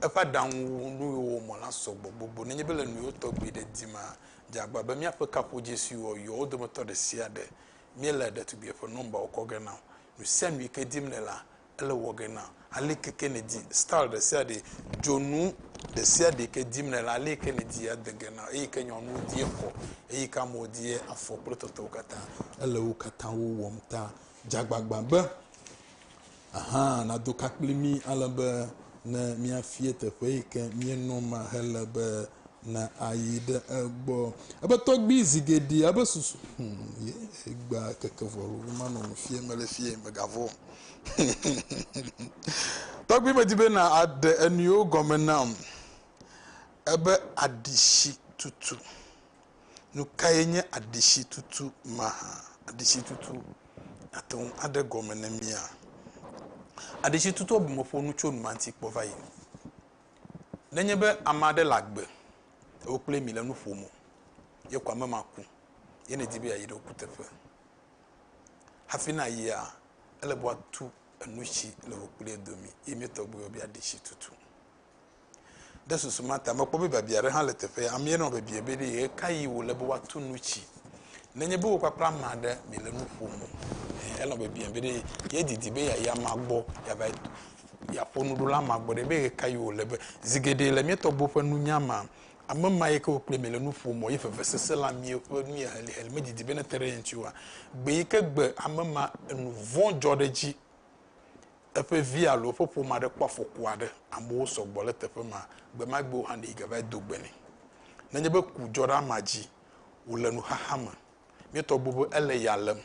Eƒe aɖaŋu nu yiwo wòwɔ mɔ la sɔgbɔ gbogbo. Nenye be le nuyiwo tɔgbi ɖe dim a, dze agbagba be míaƒe kaƒodzĩ siwo wòyɔ wo dometɔ ɖe sia ɖe, míele ɖetugbuia ƒe nɔmbawo kɔ ge na wò. Nusianu yi ke dim nèlea, ele wɔ ge na ale ke ke nèdi style ɖe sia ɖe, dzonu ɖe sia ɖe yi ke dim nèle ale yi ke nèdi ade ge na eyi ke nyɔnuwo di ekɔ eyi ke amewo di afɔ kple tɔtɔwo katã. Ele wo katã wo wɔm ta. Dze agbagba be aha nado ka kpli mí ale be ne míafia teƒe yi ke míenɔ ma hele be ne ayi ɖe egbɔ. Ebe tɔgbui zi geɖe ebe susu hmm, ye gba keke vɔ manɔ nu fie mele fie megavɔ. Tɔgbui me di be na aɖe enuiwo gɔme nam. Ebe aɖisi tutu. Nu ka ye nye aɖisi tutu ma hã? Aɖisi tutu ate ŋu aɖe gɔme ne mía. Aɖisi tutu ebe meƒo nu tso numanti kpɔ va yi. Nenye be ame aɖe le agbe, ewo kple mi le nu ƒom o, ye kɔ ame ma ku, ye ne di be yeayi ɖe wo kuteƒe. Hafi nàyia, ele be woatu enu si le wò kpli ye domi, ye mía tɔgbuiwo bia ɖi si tutu. Ɖe susu ma ta, mekpɔ be biabia aɖe hã le teƒea. Amea nɔ bebie be, Ɖe ɣekaɣi wòle be woatu nu si nenye be wò kpakple ame aɖe miele nu ƒom o? Ɛ̃, enɔ bebie be, Ɖe yedidi be yeayi amea gbɔ yeava yeaƒo nu ɖo le amea gbɔ ɖe? Be ɣekaɣi wòle be, zi geɖe le mía tɔgbuiwo ƒe nunya mea, Ame ma yike wo kple mi le nu ƒom o ye vevesese la mie ƒe nu ye heliheli medidi be nete ɖe ye ŋuti oa? Gbe yike gbe ame ma enu vɔ̃ dzɔ ɖe edzi, eƒe vi alo eƒe ƒome aɖe kpɔ afɔku aɖe, amewo sɔ gbɔ ɖe teƒe ma, gbe ma gbe wo hã ɖee gava do gbe nɛ. Nenye be ku dzɔ ɖe amea dzi wòle nuxaxa me. Míetɔ bu be ele ya lém.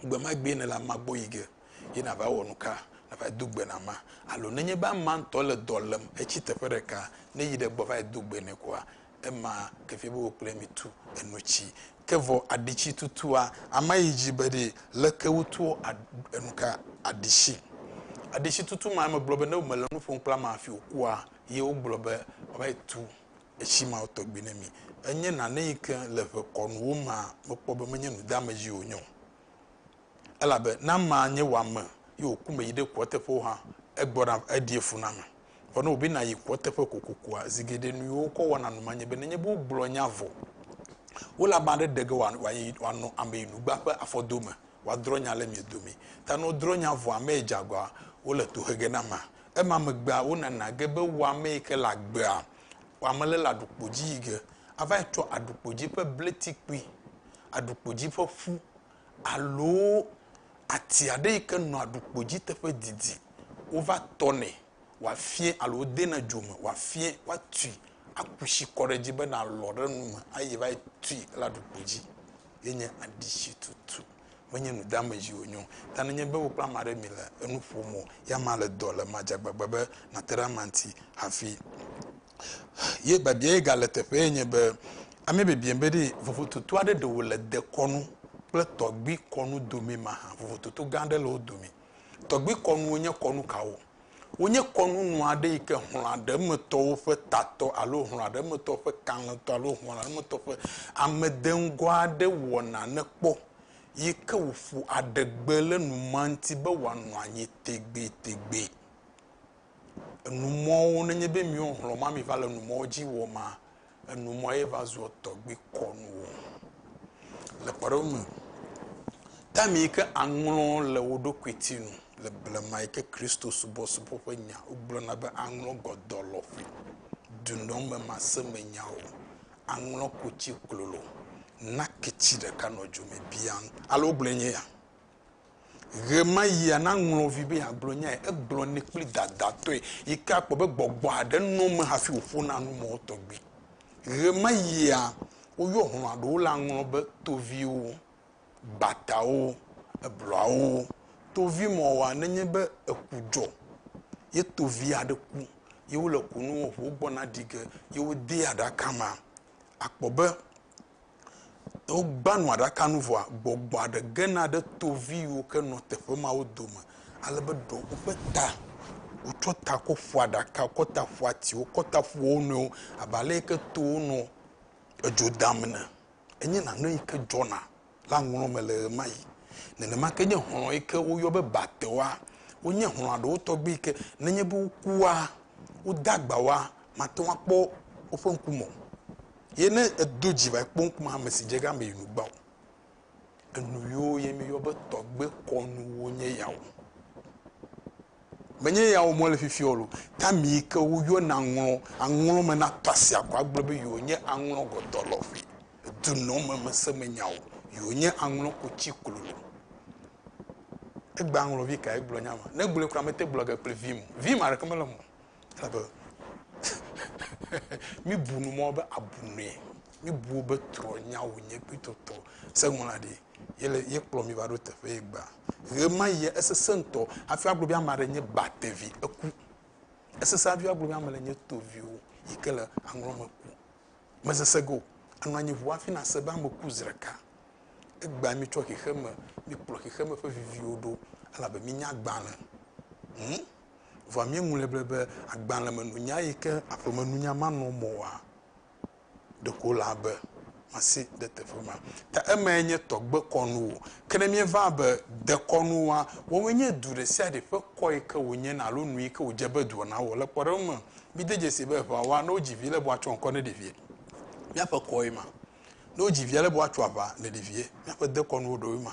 Gbe ma gbee nèle amea gbɔ yi ge ye nàva wɔ nuka? Nàva do gbe na amea? Alo nenye be amea ŋutɔ le dɔ lém hetsi teƒe ɖeka ne yi ɖe egbɔ va yi do gbe nɛ koa, ema ke fia be wò kple ye mitu enu tsi. Ke vɔ aɖitsi tutua? Amea yi dzi be ɖee. Leke wotua enu ka aɖitsi? Aɖitsi tutu ma megblɔ be ne mele nu ƒom kple amea hafi wòkua ye wogblɔ be wòava yi tu etsi mawo tɔgbi ne mi. Enye nane yi ke le ʋe kɔnuwo mea, mekpɔ be menye nu deame dzi wònye o. Elabe ne amea nye wò ame ye wòku me yi ɖe kua teƒewo hã, egbɔna eɖie fu na ame. Vɔ ne wòbe nàyi kua teƒe kokokoa, zi geɖe nu yi wokɔ wɔna nu ma nye be, nenye be wogblɔ nya vɔ, wole ame aɖe ɖe ge wòayi wòanɔ ameyinugba ƒe afɔdome wòadrɔ̃ nya le mia domee. Ta ne wodrɔ̃ nya vɔ amee dze agɔa, wole tohe ge na amea. Ema megbea wonana ge be wo ame yi ke le agbea, wo ame le le aɖukpo dzi yi ge ava yi tsɔ aɖukpo dzi ƒe bleti kpui, aɖukpo dzi ƒe ƒu alo ati aɖe yi ke nɔ aɖukpo dzi teƒe didi wova tɔnɛ wòafia alo wodena dzo me wòafia woatui aku tsi kɔ ɖe edzi bena lɔ ɖe nu me ayi va yi tui le aɖukpo dzi ye nye aɖitsitutu. menye nu deame dzi wònye o. Ta nenye be wò kple ame aɖe mile enu ƒom o, ya ma le dɔ le ema dzi agbagba be nàte ɖe amea ŋuti hafi. Ye biabia ye gale teƒee nye be, Ame biabiam be ɖe vovototo aɖe ɖe wòle dekɔnu kple tɔgbi kɔnu domee mahã. Vovototo gã aɖe le wo dome. Tɔgbi kɔnuwo nye kɔnu kawo? Wonye kɔnunu aɖe yi ke hlɔ̃a ɖe emetɔwo ƒe tatɔ alo hlɔ̃a ɖe emetɔwo ƒe kalẽtɔ alo hlɔ̃a ɖe emetɔwo ƒe amedeŋgɔ aɖe wɔna ne kpɔ yi ke wòƒo adegbe le numa ŋuti be wòanɔ anyi tegbetegbee. Enumɔwo, nenye be miwo hlɔ̃ ma miva le numɔwo dzi wɔmaa, Enumɔa ye va zua tɔgbi kɔnu o. Le kpɔɖeŋu me, taim yi ke aŋlɔ le wò ɖokui ti nu le blema yi ke Kristo subɔsubɔ ƒe nya wogblɔna be aŋlɔ gɔdɔlɔƒe, dunɔmemasẽmenyawo, aŋlɔ kutsi klolo, naketsi ɖeka nɔ dzo me biaŋ, alo wogblɔe nye ya. Ɣemayia na ŋlɔvi be yeagblɔ nyae, egblɔnɛ kple dadatɔe yi ke akpɔ be gbɔgbɔ aɖe nɔ eme hafi wòƒona nu mɔ tɔgbi. Ɣemayia woyɔ hlɔ̃a ɖewo le aŋlɔ be toviwo, batawo, eblɔawo, tovimɔ̃woa nenye be eku dzɔ ye tovi aɖe ku ye wole kunu wɔm ƒo wogbɔna ɖi ge ye wodee aɖaka mea, akpɔ be Ne wogbã nu aɖaka nu vɔa, gbɔgbɔa ɖe gena ɖe tovi yiwo ke nɔ teƒe mawo dome ale be ɖewo woƒe ta, wotsɔ ta kɔ ƒo aɖaka, kɔ ta ƒo atiwo, kɔ ta ƒo wo nɔewo abe ale yi ke towo nɔ edzo dam ene. Enye nane yi ke dzɔna le aŋlɔ̃ me le ɣemaɣi. Nenema ke nye hlɔ̃ yi ke woyɔ be batewoa, wonye hlɔ̃a ɖewo tɔgbi yi ke nenye be wokua, wode agba woa, mate ŋu akpɔ woƒe ŋkume o. Ye ne èdo dzi va yi kpɔ ŋkume ame si dze egama yi nu gbã o. Enu yiwo ye míeyɔ be tɔgbe kɔnuwo nye yawo. Menye yawo me wole fifia o loo, ke ame yi ke woyɔna aŋlɔ, aŋlɔ me natɔ asi akɔ agblɔ be yewo nye aŋlɔ gɔdɔ lɔƒe, dunɔmemesẽmenyawo, yewo nye aŋlɔ kotsi klolo. Egbe aŋlɔvi kae gblɔ nya ma? Ne egblɔe kura mete gblɔ ge kple vim o. Vim aɖeke mele eme o. Elabe míbu nu mɔ be abu nue. Míbu wobe trɔ̃nyawo nye kpli tɔtɔ seŋlɔa ɖi ye le ye kplɔ mi va ɖo teƒe ye gbea. Ɣemaɣi esesẽ ŋutɔ hafi agblɔ be ame aɖe nye batevi eku. Esesẽ hafi agblɔ be ame le nye toviwo yi ke le aŋlɔ me ku. Mesese ge o. Anɔ anyi ŋu hafi nase be ame ku zi ɖeka. Egbea mi tsɔ xexeme mi kplɔ xexeme ƒe viviwo ɖo elabe mi nye agbalẽ. Hum. Vɔa míeŋlɔe ble be agbalẽmenunya yi ke aƒemenunya manɔ mɔ oa, ɖeko wòle abe masi ɖe teƒe ma. Ta emae nye tɔgbekɔnuwo. Ke ne míeva be dekɔnu wa, woawoe nye du ɖe sia ɖe ƒe kɔ yi ke wònye na alo nu yi ke wòdze be dua nawɔ. Le kpɔɖeŋu me, mide dzesii be eŋea wa, ne wodzi vi le be woatsɔ ŋkɔ ne ɖevia. Míaƒe kɔwoe ma. Ne wodzi via le be woatso aʋa ne ɖevia, míaƒe dekɔnuwo ɖewoe ma.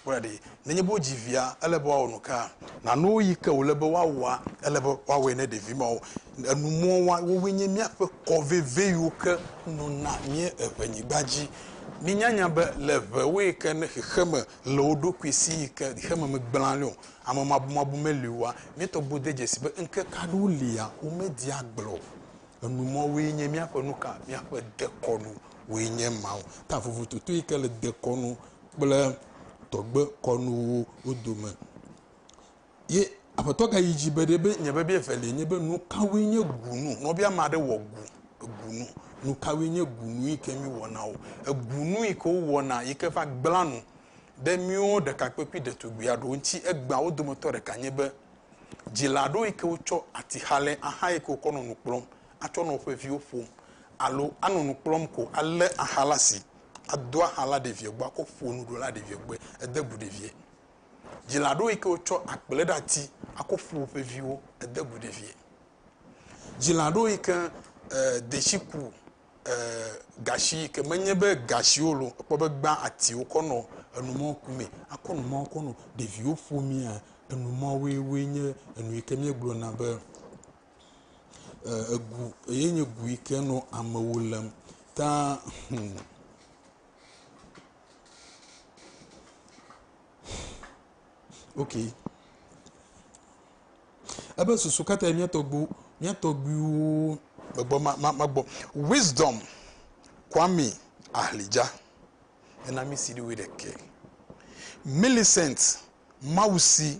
Kpɔe ɖa ɖi, nenye be wodzi via, ele be woawɔ nuka? Na nu yi ke wòle be woawɔa, ele be woawɔe ne ɖevi mawo. Enu muwo wa, wowoe nye míaƒe kɔ veve yiwo ke nona mía eŋɛnyigba dzi. Minya nya be le ŋewoe ke ne xexeme le wo ɖokui si yi ke xexeme megblẽa le o, amemabumabu meli oa, míetɔ gbo de dzesi be ŋkeke aɖewo lia womedi agblẽ o. Enu muawoe nye míaƒe nuka? Míaƒe dekɔnu woe nye mawo. Ta vovototo yi ke le dekɔnu kple tɔgbe kɔnuwo wo dome. Ye aƒetɔ gayi dzi be ɖe be nye biabia evelia nye be nu kawoe nye gunu. Ne wobia ame aɖe wɔ gu, egunu, nu kawoe nye gunu yi ke míwɔna o. Egunu yi ke wowɔna yi ke va gblẽa nu ɖe míwo ɖekakpui kple ɖetugbui aɖewo ŋuti egbea wo dometɔ ɖeka nye be, dzila aɖewo yi ke wotsɔ atixalɛ axa yi ke wokɔ nɔ nu kplɔm atsɔ nɔ woƒe viwo ƒom alo anɔ nu kplɔm ko alé axa ɖe asi Ado axa la ɖevie gbɔ akɔ ƒo nuɖo la ɖevie gbɔe ede gu ɖevie. Dzila ɖewo yi ke wotsɔ akple ɖe ati akɔ ƒo woƒe viwo ede gu ɖevie. Dzila ɖewo yi ke e, detsi ku e, gashi yi ke menye be gashiwo lo ekpɔ be gbã atiwo kɔ nɔ enumɔwo ku mee akɔ numɔwo kɔ nɔ ɖeviwo ƒomea enumɔwoe woe nye enu yi ke míegblɔna be. e egu eye nye gu yi ke nɔ amewo lém ta hmm. ok ebe susu katã mía tɔgbu mía tɔgbuiwo gbɔ ma ma ma gbɔ wisdom kwame ahlidza ena mi si ɖiwoe ɖeke millicent mawusi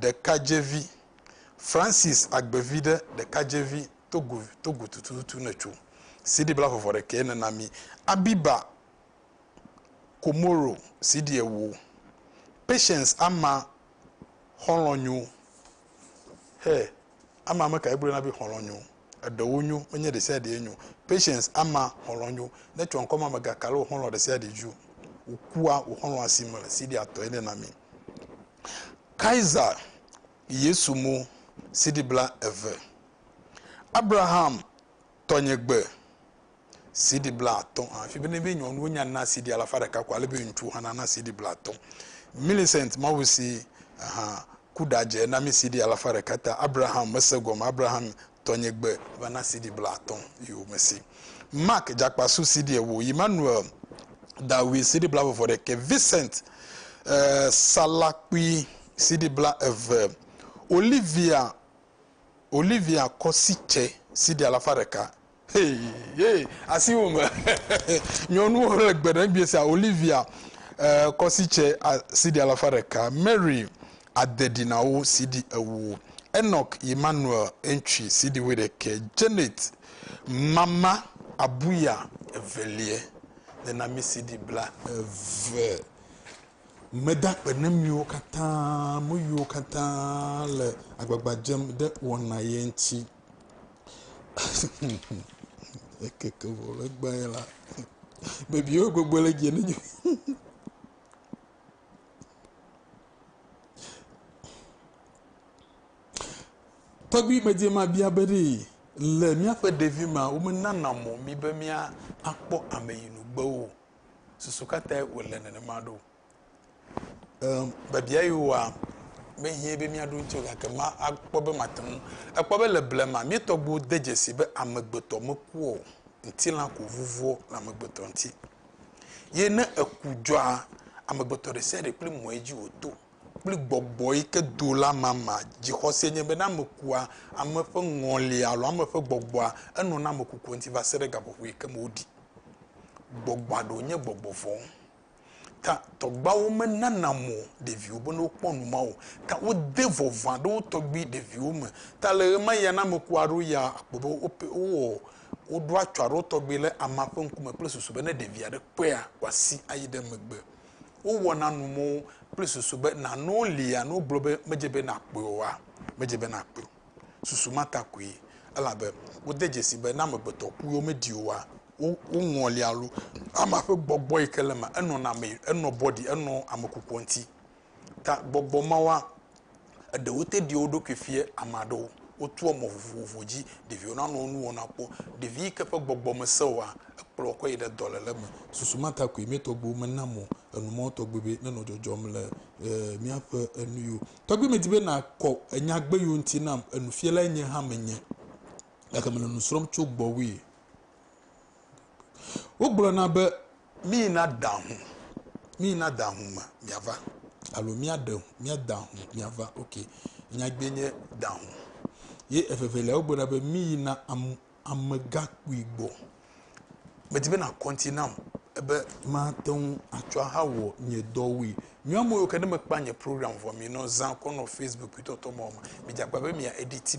ɖekadzevi Francis agbeviɖe ɖekadzevi Togo Togo tututu netso CD bla vɔvɔ ɖekɛ nena mi Abiba Komoro CD ewo Patience ama xɔlɔ nyo hɛ ama meka egblɔe na be xɔlɔ nyo eɖewo nyo menye ɖesiaɖee nyo Patience ama xɔlɔ nyo netsɔ ŋkɔ ma megakalo xɔlɔ ɖesiaɖe ju wòkua wòxɔlɔ asi mele CD atɔe nena mi. Kaiser Yesu mo CD bla eve, Abraham tɔnye gbe CD bla atɔ̃ hã fi bene be nyɔnuwo nya na CD alafa ɖeka ko ale be ŋutsu hã nana CD bla atɔ̃. Millicent Mawusi hã ku ɖadze na mi CD alafa ɖeka ta Abraham mese gɔme Abraham Tɔnye gbe va na CD blaatɔ̃ yo me si. Mark Jakpasu CD ewo, Emmanuel Dawui CD blaveve ɖekɛ, Vincent eh, Salakpui CD bla eve, Olivia Olivia Kɔsitse CD alafa ɖeka. Hey, hey, asiwo me nyɔnuwo le gbe ɖe sia Olivia eh, Kɔsitse CD alafa ɖeka, Mary ade ɖi na wo siɖi ewo, Enoch Emmanuel Entwi siɖi wuiɖekɛ, Janet Mama Abuya eveliɛ de na mi siɖi bla eve. Meda akpe ne miwo katã, me yiwo katã le agbagba dzem ɖe wɔna yɛ ŋuti. Ekeke vɔ le gbãe la, bebiwo gbogbo le dze ne nye. Tɔgbui medze ma bia be ɖe le míaƒe ɖevi ma womenana mɔ mi be mía akpɔ ame yi nu gbe o. Susu ka tae wòle nenema ɖo? Ehm, biabia yi wòa mehiã be míaɖo ŋuti o gake ma akpɔ be mate ŋu. Ekpɔ be le blema míetɔgbuiwo de dzesi be amegbetɔ mekua o, ŋutilã ko vuvua le amegbetɔ ŋuti. Ye ne eku dzɔa, amegbetɔ ɖe sia ɖe kple mɔe dzi wòto kple gbɔgbɔ yi ke do la mama. Dzixɔse nye be ne ame kua, ame ƒe ŋɔli alo ame ƒe gbɔgbɔa enɔ na ame kukua ŋuti va se ɖe gaƒoƒo yi ke me woɖii. Gbɔgbɔa ɖewo nye gbɔgbɔ vɔ̃. Ta tɔgbuiawo menana mɔ ɖeviwo be ne wokpɔ nu ma o. Ta wode vɔvɔ̃ aɖe wo tɔgbui ɖeviwo me. Ta le ɣemaɣia ne ame kua ɖo ya akpɔ be wowɔ Woɖo atsɔ aɖewo tɔgbi le amea ƒe ŋkume kple susu be ne ɖevi aɖe kpɔea, wòasi ayi ɖe megbe. Wowɔna numɔ̃wo kple susu be nanewo lia ne wogblɔ be medze be nàkpɔe oa? Medze be nàkpɔe o. Susu ma ta koe, elabe wode dzesii be ne amegbetɔ ku ye womedi oa, woŋɔlia alo amea ƒe gbɔgbɔ yi ke le eme enɔna ame, enɔ bɔɖi, enɔ ame kukua ŋuti. Ta gbɔgbɔ mawoa, eɖewo te ɖi wo ɖokui fia ame aɖewo. Wotoa mɔ vovovo dzi ɖeviwo nanɔ nuwɔna kpɔ. Ɖevi yi ke ƒe gbɔgbɔ mesẽ oa, ekplɔa kɔ yi ɖe dɔléle me. Susu ma ta koe mía tɔgbuiwo mena mɔ enu mawo tɔgbi be nenɔ dzɔdzɔm le míaƒe nuyi o. Tɔgbi, medi be nàkɔ nyagbe yiwo ŋuti nam. Nufialae nye hã menye, gake mele nu srɔ̃m tso gbɔwòe. Wogblɔna be. Mí na da hu, mí na da hu ma mia va alo mía ɖe hu mía da hu mia va ok nya gbe nye da hu. Ye evevelia wo gbe na be mí yi na am amega kpui gbɔ. Me di be na kɔnti nam ebe ma te ŋu a tsɔ aha wɔ nye dɔ wui. Nyɔa me yio ke ne me kpa nye program vɔ mi nɔ zã kɔ nɔ Facebook kpui tɔtɔ mɔ me dza kpa be mia editi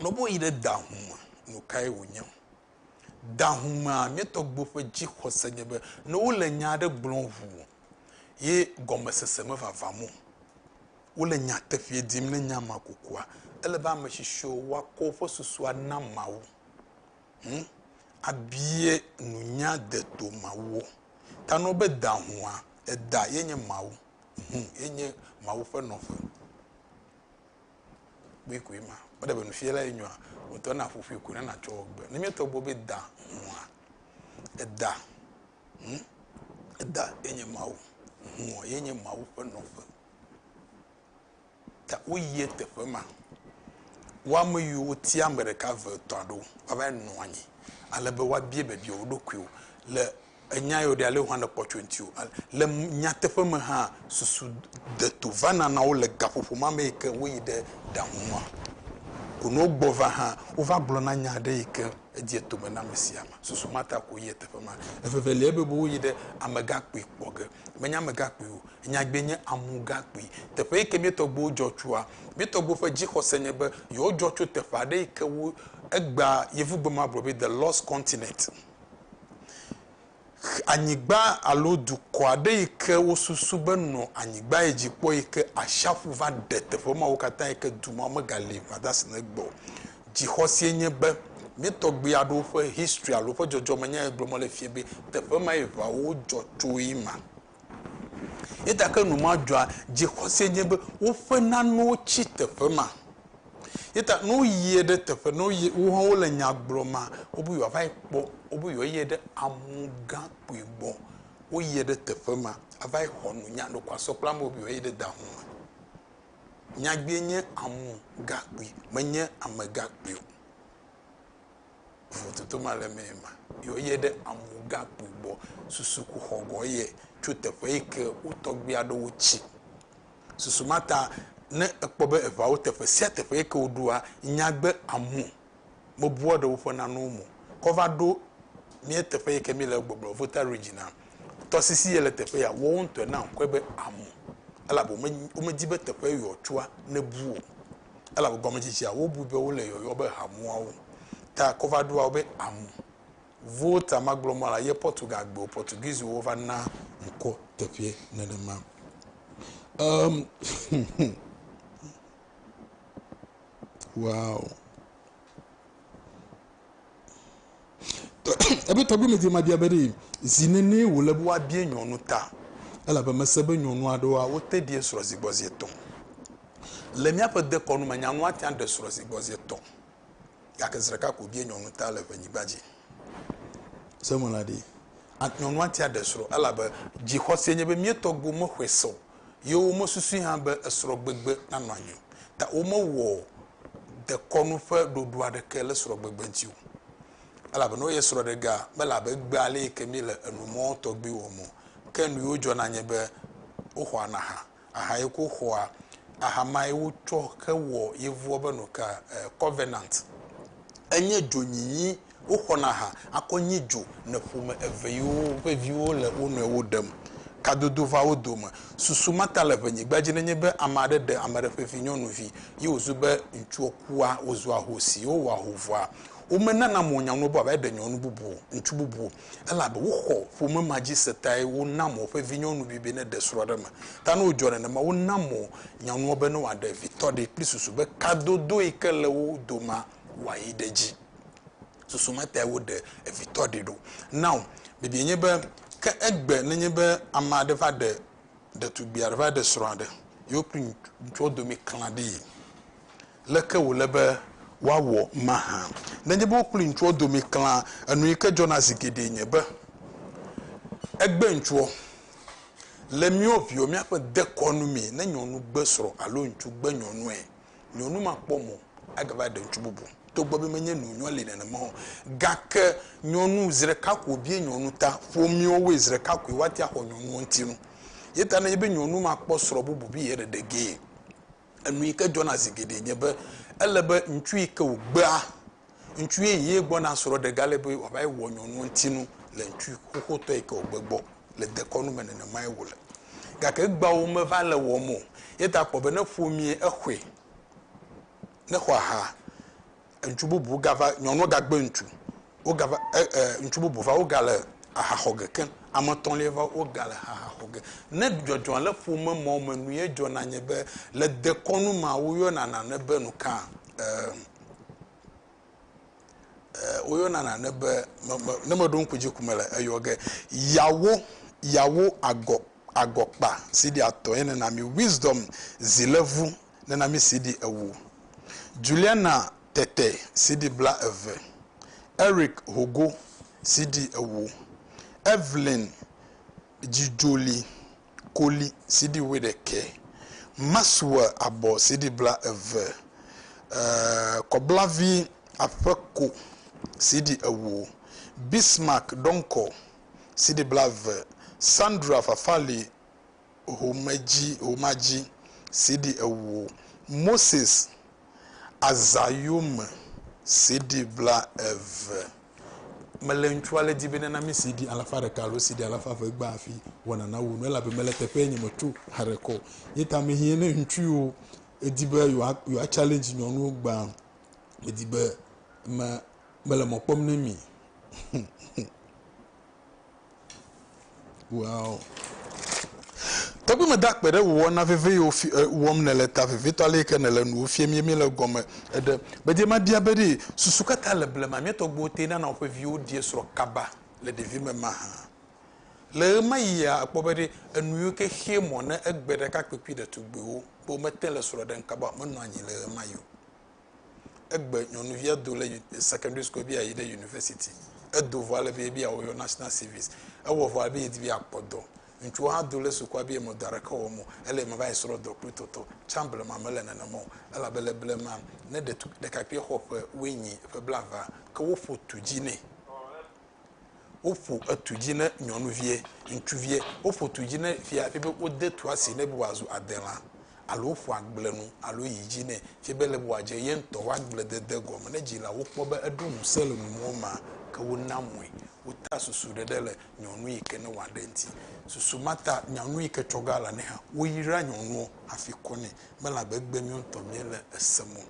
Ne woyi ɖe da ŋu me nu kae wònye? Da ŋu mea, mía tɔgbuiwo ƒe dzixɔse nye be ne wole nya aɖe gblɔm ŋu ye gɔmesese mevavam o, wole nyateƒee dim ne nya ma kukua, ele be ame tsitsiwo woakɔ woƒe susua na Mawu ŋu abia nunya deto Mawuɔ? Ta nɔ be da ŋua, eda ye nye Mawu, ŋu ye nye Mawu ƒe nɔƒe. kpuikpui ma. Wole be nufiala ye nyoa ŋutɔ na ƒuƒui ko ne natsɔ wɔ gbe. Ne míetɔ gbɔ be da hũa, eda hũ, eda ye nye Mawu, hũɔ ye nye Mawu ƒe nɔƒe. Ta woyie teƒe ma. Wo ame yiwo wotia ame ɖeka, eve, etɔ̃ aɖewo woava nɔ anyi ale be woabia biabia wo ɖokuiwo le. Ènyae o ɖe, ale wòhã le kpɔtsoe ŋuti o. Le nyateƒe me hã, susu deto vana na wo le gaƒoƒo ma me yi ke woyi ɖe ɖaŋu ma ko. Ne wogbɔ va hã, wova gblɔna nya aɖe yi ke edze etome na ame sia ame. Susu ma ta ko yia teƒe ma. Eveveliae be woyi ɖe amegakpui kpɔ ge. Menye amegakpui o, enyagbee nye amugakpui. Teƒe yi ke mía tɔgbuiwo dzɔ tsoa, mía tɔgbuiwo ƒe dzixɔse nye be yewodzɔ tso teƒe aɖe yi ke wo, egbea, yevugbe ma gblɔ be, The Lost Continent. Anyigba alo dukɔ aɖe yi ke wosusu be nɔ anyigba yi dzi kpɔ yi ke ashiaƒu va ɖe teƒe mawo katã yi ke du ma megali vadasi ɖe egbɔ o. Dzixɔsie nye be mía tɔgbui aɖewo ƒe history alo woƒe dzɔdzɔmenyae gblɔ mele fia be teƒe mae ŋawo dzɔ tso ye ma. Eya ta ke nu ma dzɔa dzixɔse nye be woƒe nanewo tsi teƒe ma. Eya ta ne woyie ɖe teƒe, ne woyie, wo hã wole nya gblɔ ma, wobe yewoava yi kpɔ, wobe yewoayie ɖe amɔ̃gã kpui gbɔ. Woyie ɖe teƒe ma ava yi xɔ nu. Nya ɖeko asɔ kple amewo be yewoayie ɖe da ŋu me. Nyagbee nye amɔ̃gã kpui, menye amegã kpui o. vovototo ma le eme ma, yi woyie ɖe Amugãkpui gbɔ susukuxɔ gɔ eye tso teƒe yi ke wo tɔgbui aɖewo tsi. Susu ma ta ne ekpɔ be eŋawo teƒe sia teƒe yi ke woɖoa, nyagbe amu mebua ɖe woƒe nanewo me o. Ke wova ɖo mía teƒe yi ke míele egbɔ gblɔ Volta Region la, tɔsisi yi le teƒe ya, woawo ŋutɔe na ŋkɔe be amu elabe womedi be teƒe yewoatsua nebu o. elabe gɔmedzedzea wobui be wole yɔyɔ be hamuawo. Ta kɔva ɖoa wo be amu. Vo ta magblɔ mɔ la ye Portugal gbewo, Portuguese wo va na ŋkɔ teƒeɛ nenema. Um, wow. Ebe tɔgbi me dzi ma bia be ɖe zi nene wo le be woa bia nyɔnu ta elabe me se be nyɔnu aɖewoa wo te ɖi esrɔ zi gbɔ zi etɔ. Le mía ƒe dekɔnu me nyanu ate ŋu aɖe esrɔ zi gbɔ zi etɔ gake zi ɖeka ko bia nyɔnu ta le ƒe nyigba dzi. Se me la ɖi. Nyɔnu ate aɖe esrɔ elabe dzi xɔse nye be mía tɔgbiwo me xɔe se o ye wo me susui hã be esrɔ gbegbe na nɔ anyi o ta wo me wɔ dekɔnu ƒe ɖoɖo aɖeke le srɔ̃gbegbe ŋuti o, elabena wo ye srɔ̃ɖegaa mele abe egbea ale yi ke míele enu mɔ tɔgbi wɔm o. Ke nu yiwo dzɔna nye be, woxɔana aha, aha yi ke woxɔa, aha ma ye wotsɔ hewɔ yevua be nu ka, covenant. Enye dzonyinyi Woxɔna ha akɔ nyi dzo le ƒome eve yiwo ƒe viwo le wo nɔewo ɖem. Kadodo va wo dome. Susu ma ta le ʋenyigba dzi nenye be ame aɖe ɖe ame aɖe ƒe vinyɔnuvi ye wòzu be ŋutsuɔ kua, wòzu ahosi, ye wowɔa hovɔa. Womenana mo nyɔnuɔ be wòaɖe nyɔnu bubu o, ŋutsu bubu o, elabe woxɔ ƒome ma dzi se tae wona mo woƒe vinyɔnuvi be neɖe srɔ̃ aɖe me. Ta ne wòdzɔ nenema, wona mo nyɔnuɔ be ne wòaɖe vitɔ ɖee kple susu be kadodo yi ke le wo domea, wayi ɖe edzi. Susu metae woɖe evitɔ ɖi ɖo. Now, bibiae nye be, ke egbe ne nye be ame aɖe va ɖe ɖetugbui aɖe, va ɖe srɔ̃ aɖe, ye wo kple ŋutsuɔ dome klã ɖi, leke wòle be woawɔ mahã? Ne enye be wo kple ŋutsuɔ dome klã, enu yi ke dzɔna zi geɖee nye be, egbe ŋutsuɔ. Le míwo viwo, míaƒe dekɔnu mee, ne nyɔnu gbe srɔ̃ alo ŋutsu gbe nyɔnuae, nyɔnu makpɔ mɔ agava ɖe ŋutsu bubu togbɔ be menye nu nyɔ li nenema o. Gake nyɔnu zreka ko wobie nyɔnu ta ƒomiwo woe zreka koe woate axɔ nyɔnuɔ ŋuti nu. Yeta nenye be nyɔnu makpɔ srɔ bubu bi yeɖeɖegee. Enu yike dzɔna zigeɖe nye be ele be ŋutsu yike wogbea, Ŋutsu ye yi gbɔna srɔ̃ ɖe gale be wòava yi wɔ nyɔnua ŋuti nu le ŋutsu xoxotɔ yi ke wògbe gbɔ le dekɔnu me nenemae wòle. Gake egbeawo meva le wɔm o. Ye ta kpɔ be ne ƒomie exɔe, ne xɔ aha, ŋutsu bubu gava, nyɔnua gagbe ŋutsu, wogava e e ŋutsu bubu va wogale aha xɔ ge keŋ. Ame etɔ̃lia va wogale aha xɔ ge. Ne dzɔdzɔ le ƒome mɔ me nue dzɔna nye be le dekɔnu mea woyɔna nane be nu ka? E. Ee, woyɔna nane be, me, me, ne meɖo ŋku dzi ko mele eyɔ ge. Yawo, yawo agɔ, agɔkpa CD atɔ ye nena mi Wisdom zilevu nena mi CD ewo. Juliana Tete CD bla eve. Eric Hogo CD ewo. Evelyn Dzidzoli koli CD wuiɖekɛ, Maxwell abɔ CD blaeve, Kɔblavi aƒeko CD ewo, Bismarck dɔŋkɔ CD blaeve, Sandra Fafali homedzi homedzi CD ewo, Moses Azã yome CD bla eve mele ŋutsua le di be nana mi CD alafa ɖeka alo CD alafa eve gba afi wɔna na wo nu elabe mele teƒe nye me tso haɖe kɔ ye ta me hiɛ ne ŋutsu yiwo edi be yewoa yewoa challenge nyɔnuwo gba medi be me mele mɔ kpɔm ne mi Wow. Tɔgbi me da kpe ɖe wò wɔna veve yiwo fi, e, wɔm nèle ta vevitɔ ale yike nèle nuwo fiem ye míele egɔme eɖe. Bedie mabia be ɖe susu katã le blema mía tɔgbuiwo te nana woƒe viwo ɖie srɔ̃ kaba le ɖevime mahã. Le ɣemaɣia èkpɔ be ɖe enu yiwo ke xea mɔ ne egbe ɖekakpuikpui ɖetugbuiwo be womete le srɔ̃ ɖem kaba o menɔa anyi le ɣemaɣi o. Egbe nyɔnuvia do le secondary school be yeayi ɖe university. Edo vɔ ale be be yeawɔ yewo national service. Ewɔ vɔ ale be yedi be yeakpɔ dɔ. Ŋutsuwo hã do le sukua be yemedɔ aɖeke wɔm o. Ele me va yi srɔ̃ dɔ kple tɔtɔ. Tsã blema mele nenema o. Elabe le blema, ne ɖetu, ɖekakpuia xɔ ƒe wuienyi, ƒe blaevea, ke woƒo tu dzi nɛ. Woƒo etu dzi ne nyɔnuvie, ŋutsuvie. Woƒo tu dzi ne fia fie be wode tua si nɛ be wòazu adelã alo woƒo agblenu alo yi dzi nɛ fie be ele be wòadze ye ŋutɔ ƒe agbledede gɔme. Ne dzilawo kpɔ be eɖo ŋusẽ le numɔwo mea, ke wonaa mɔe. Wotea susuɖeɖe le nyɔnu yi ke ne wòaɖe ŋuti. Susu ma ta nyɔnu yi ke tsɔ ge alanɛ hã, woyraa nyɔnuɔ hafi kɔnɛ. Mele abe egbemɛ ŋutɔ míele esem o.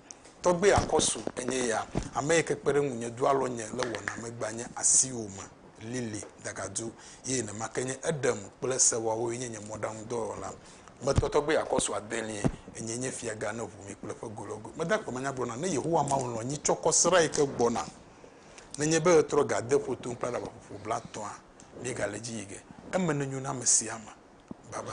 Tɔgbe akɔsu enye ya, ame yi ke kpe ɖe ŋunye do alɔ nye le wɔname gbanye asiwo me. Lily Dagadu ye nemake nye eɖem kple sewawo ye nye nye mɔɖaŋudɔwɔla. Metɔ tɔgbe akɔsu adelie, enyee nye fiaga ne ʋu mi kple ƒe go lɔ go. Mede akpe me nya gblɔna ne Yehowa Mawu lɔ̃ nyi tsɔ kɔ srã yi ke gbɔna. Nenye be ɣetrɔ ga de ƒo tom kple aɖabaƒoƒo blatɔa, míegale edzi yi ge. Eme nenyo na ame sia ame. Baba.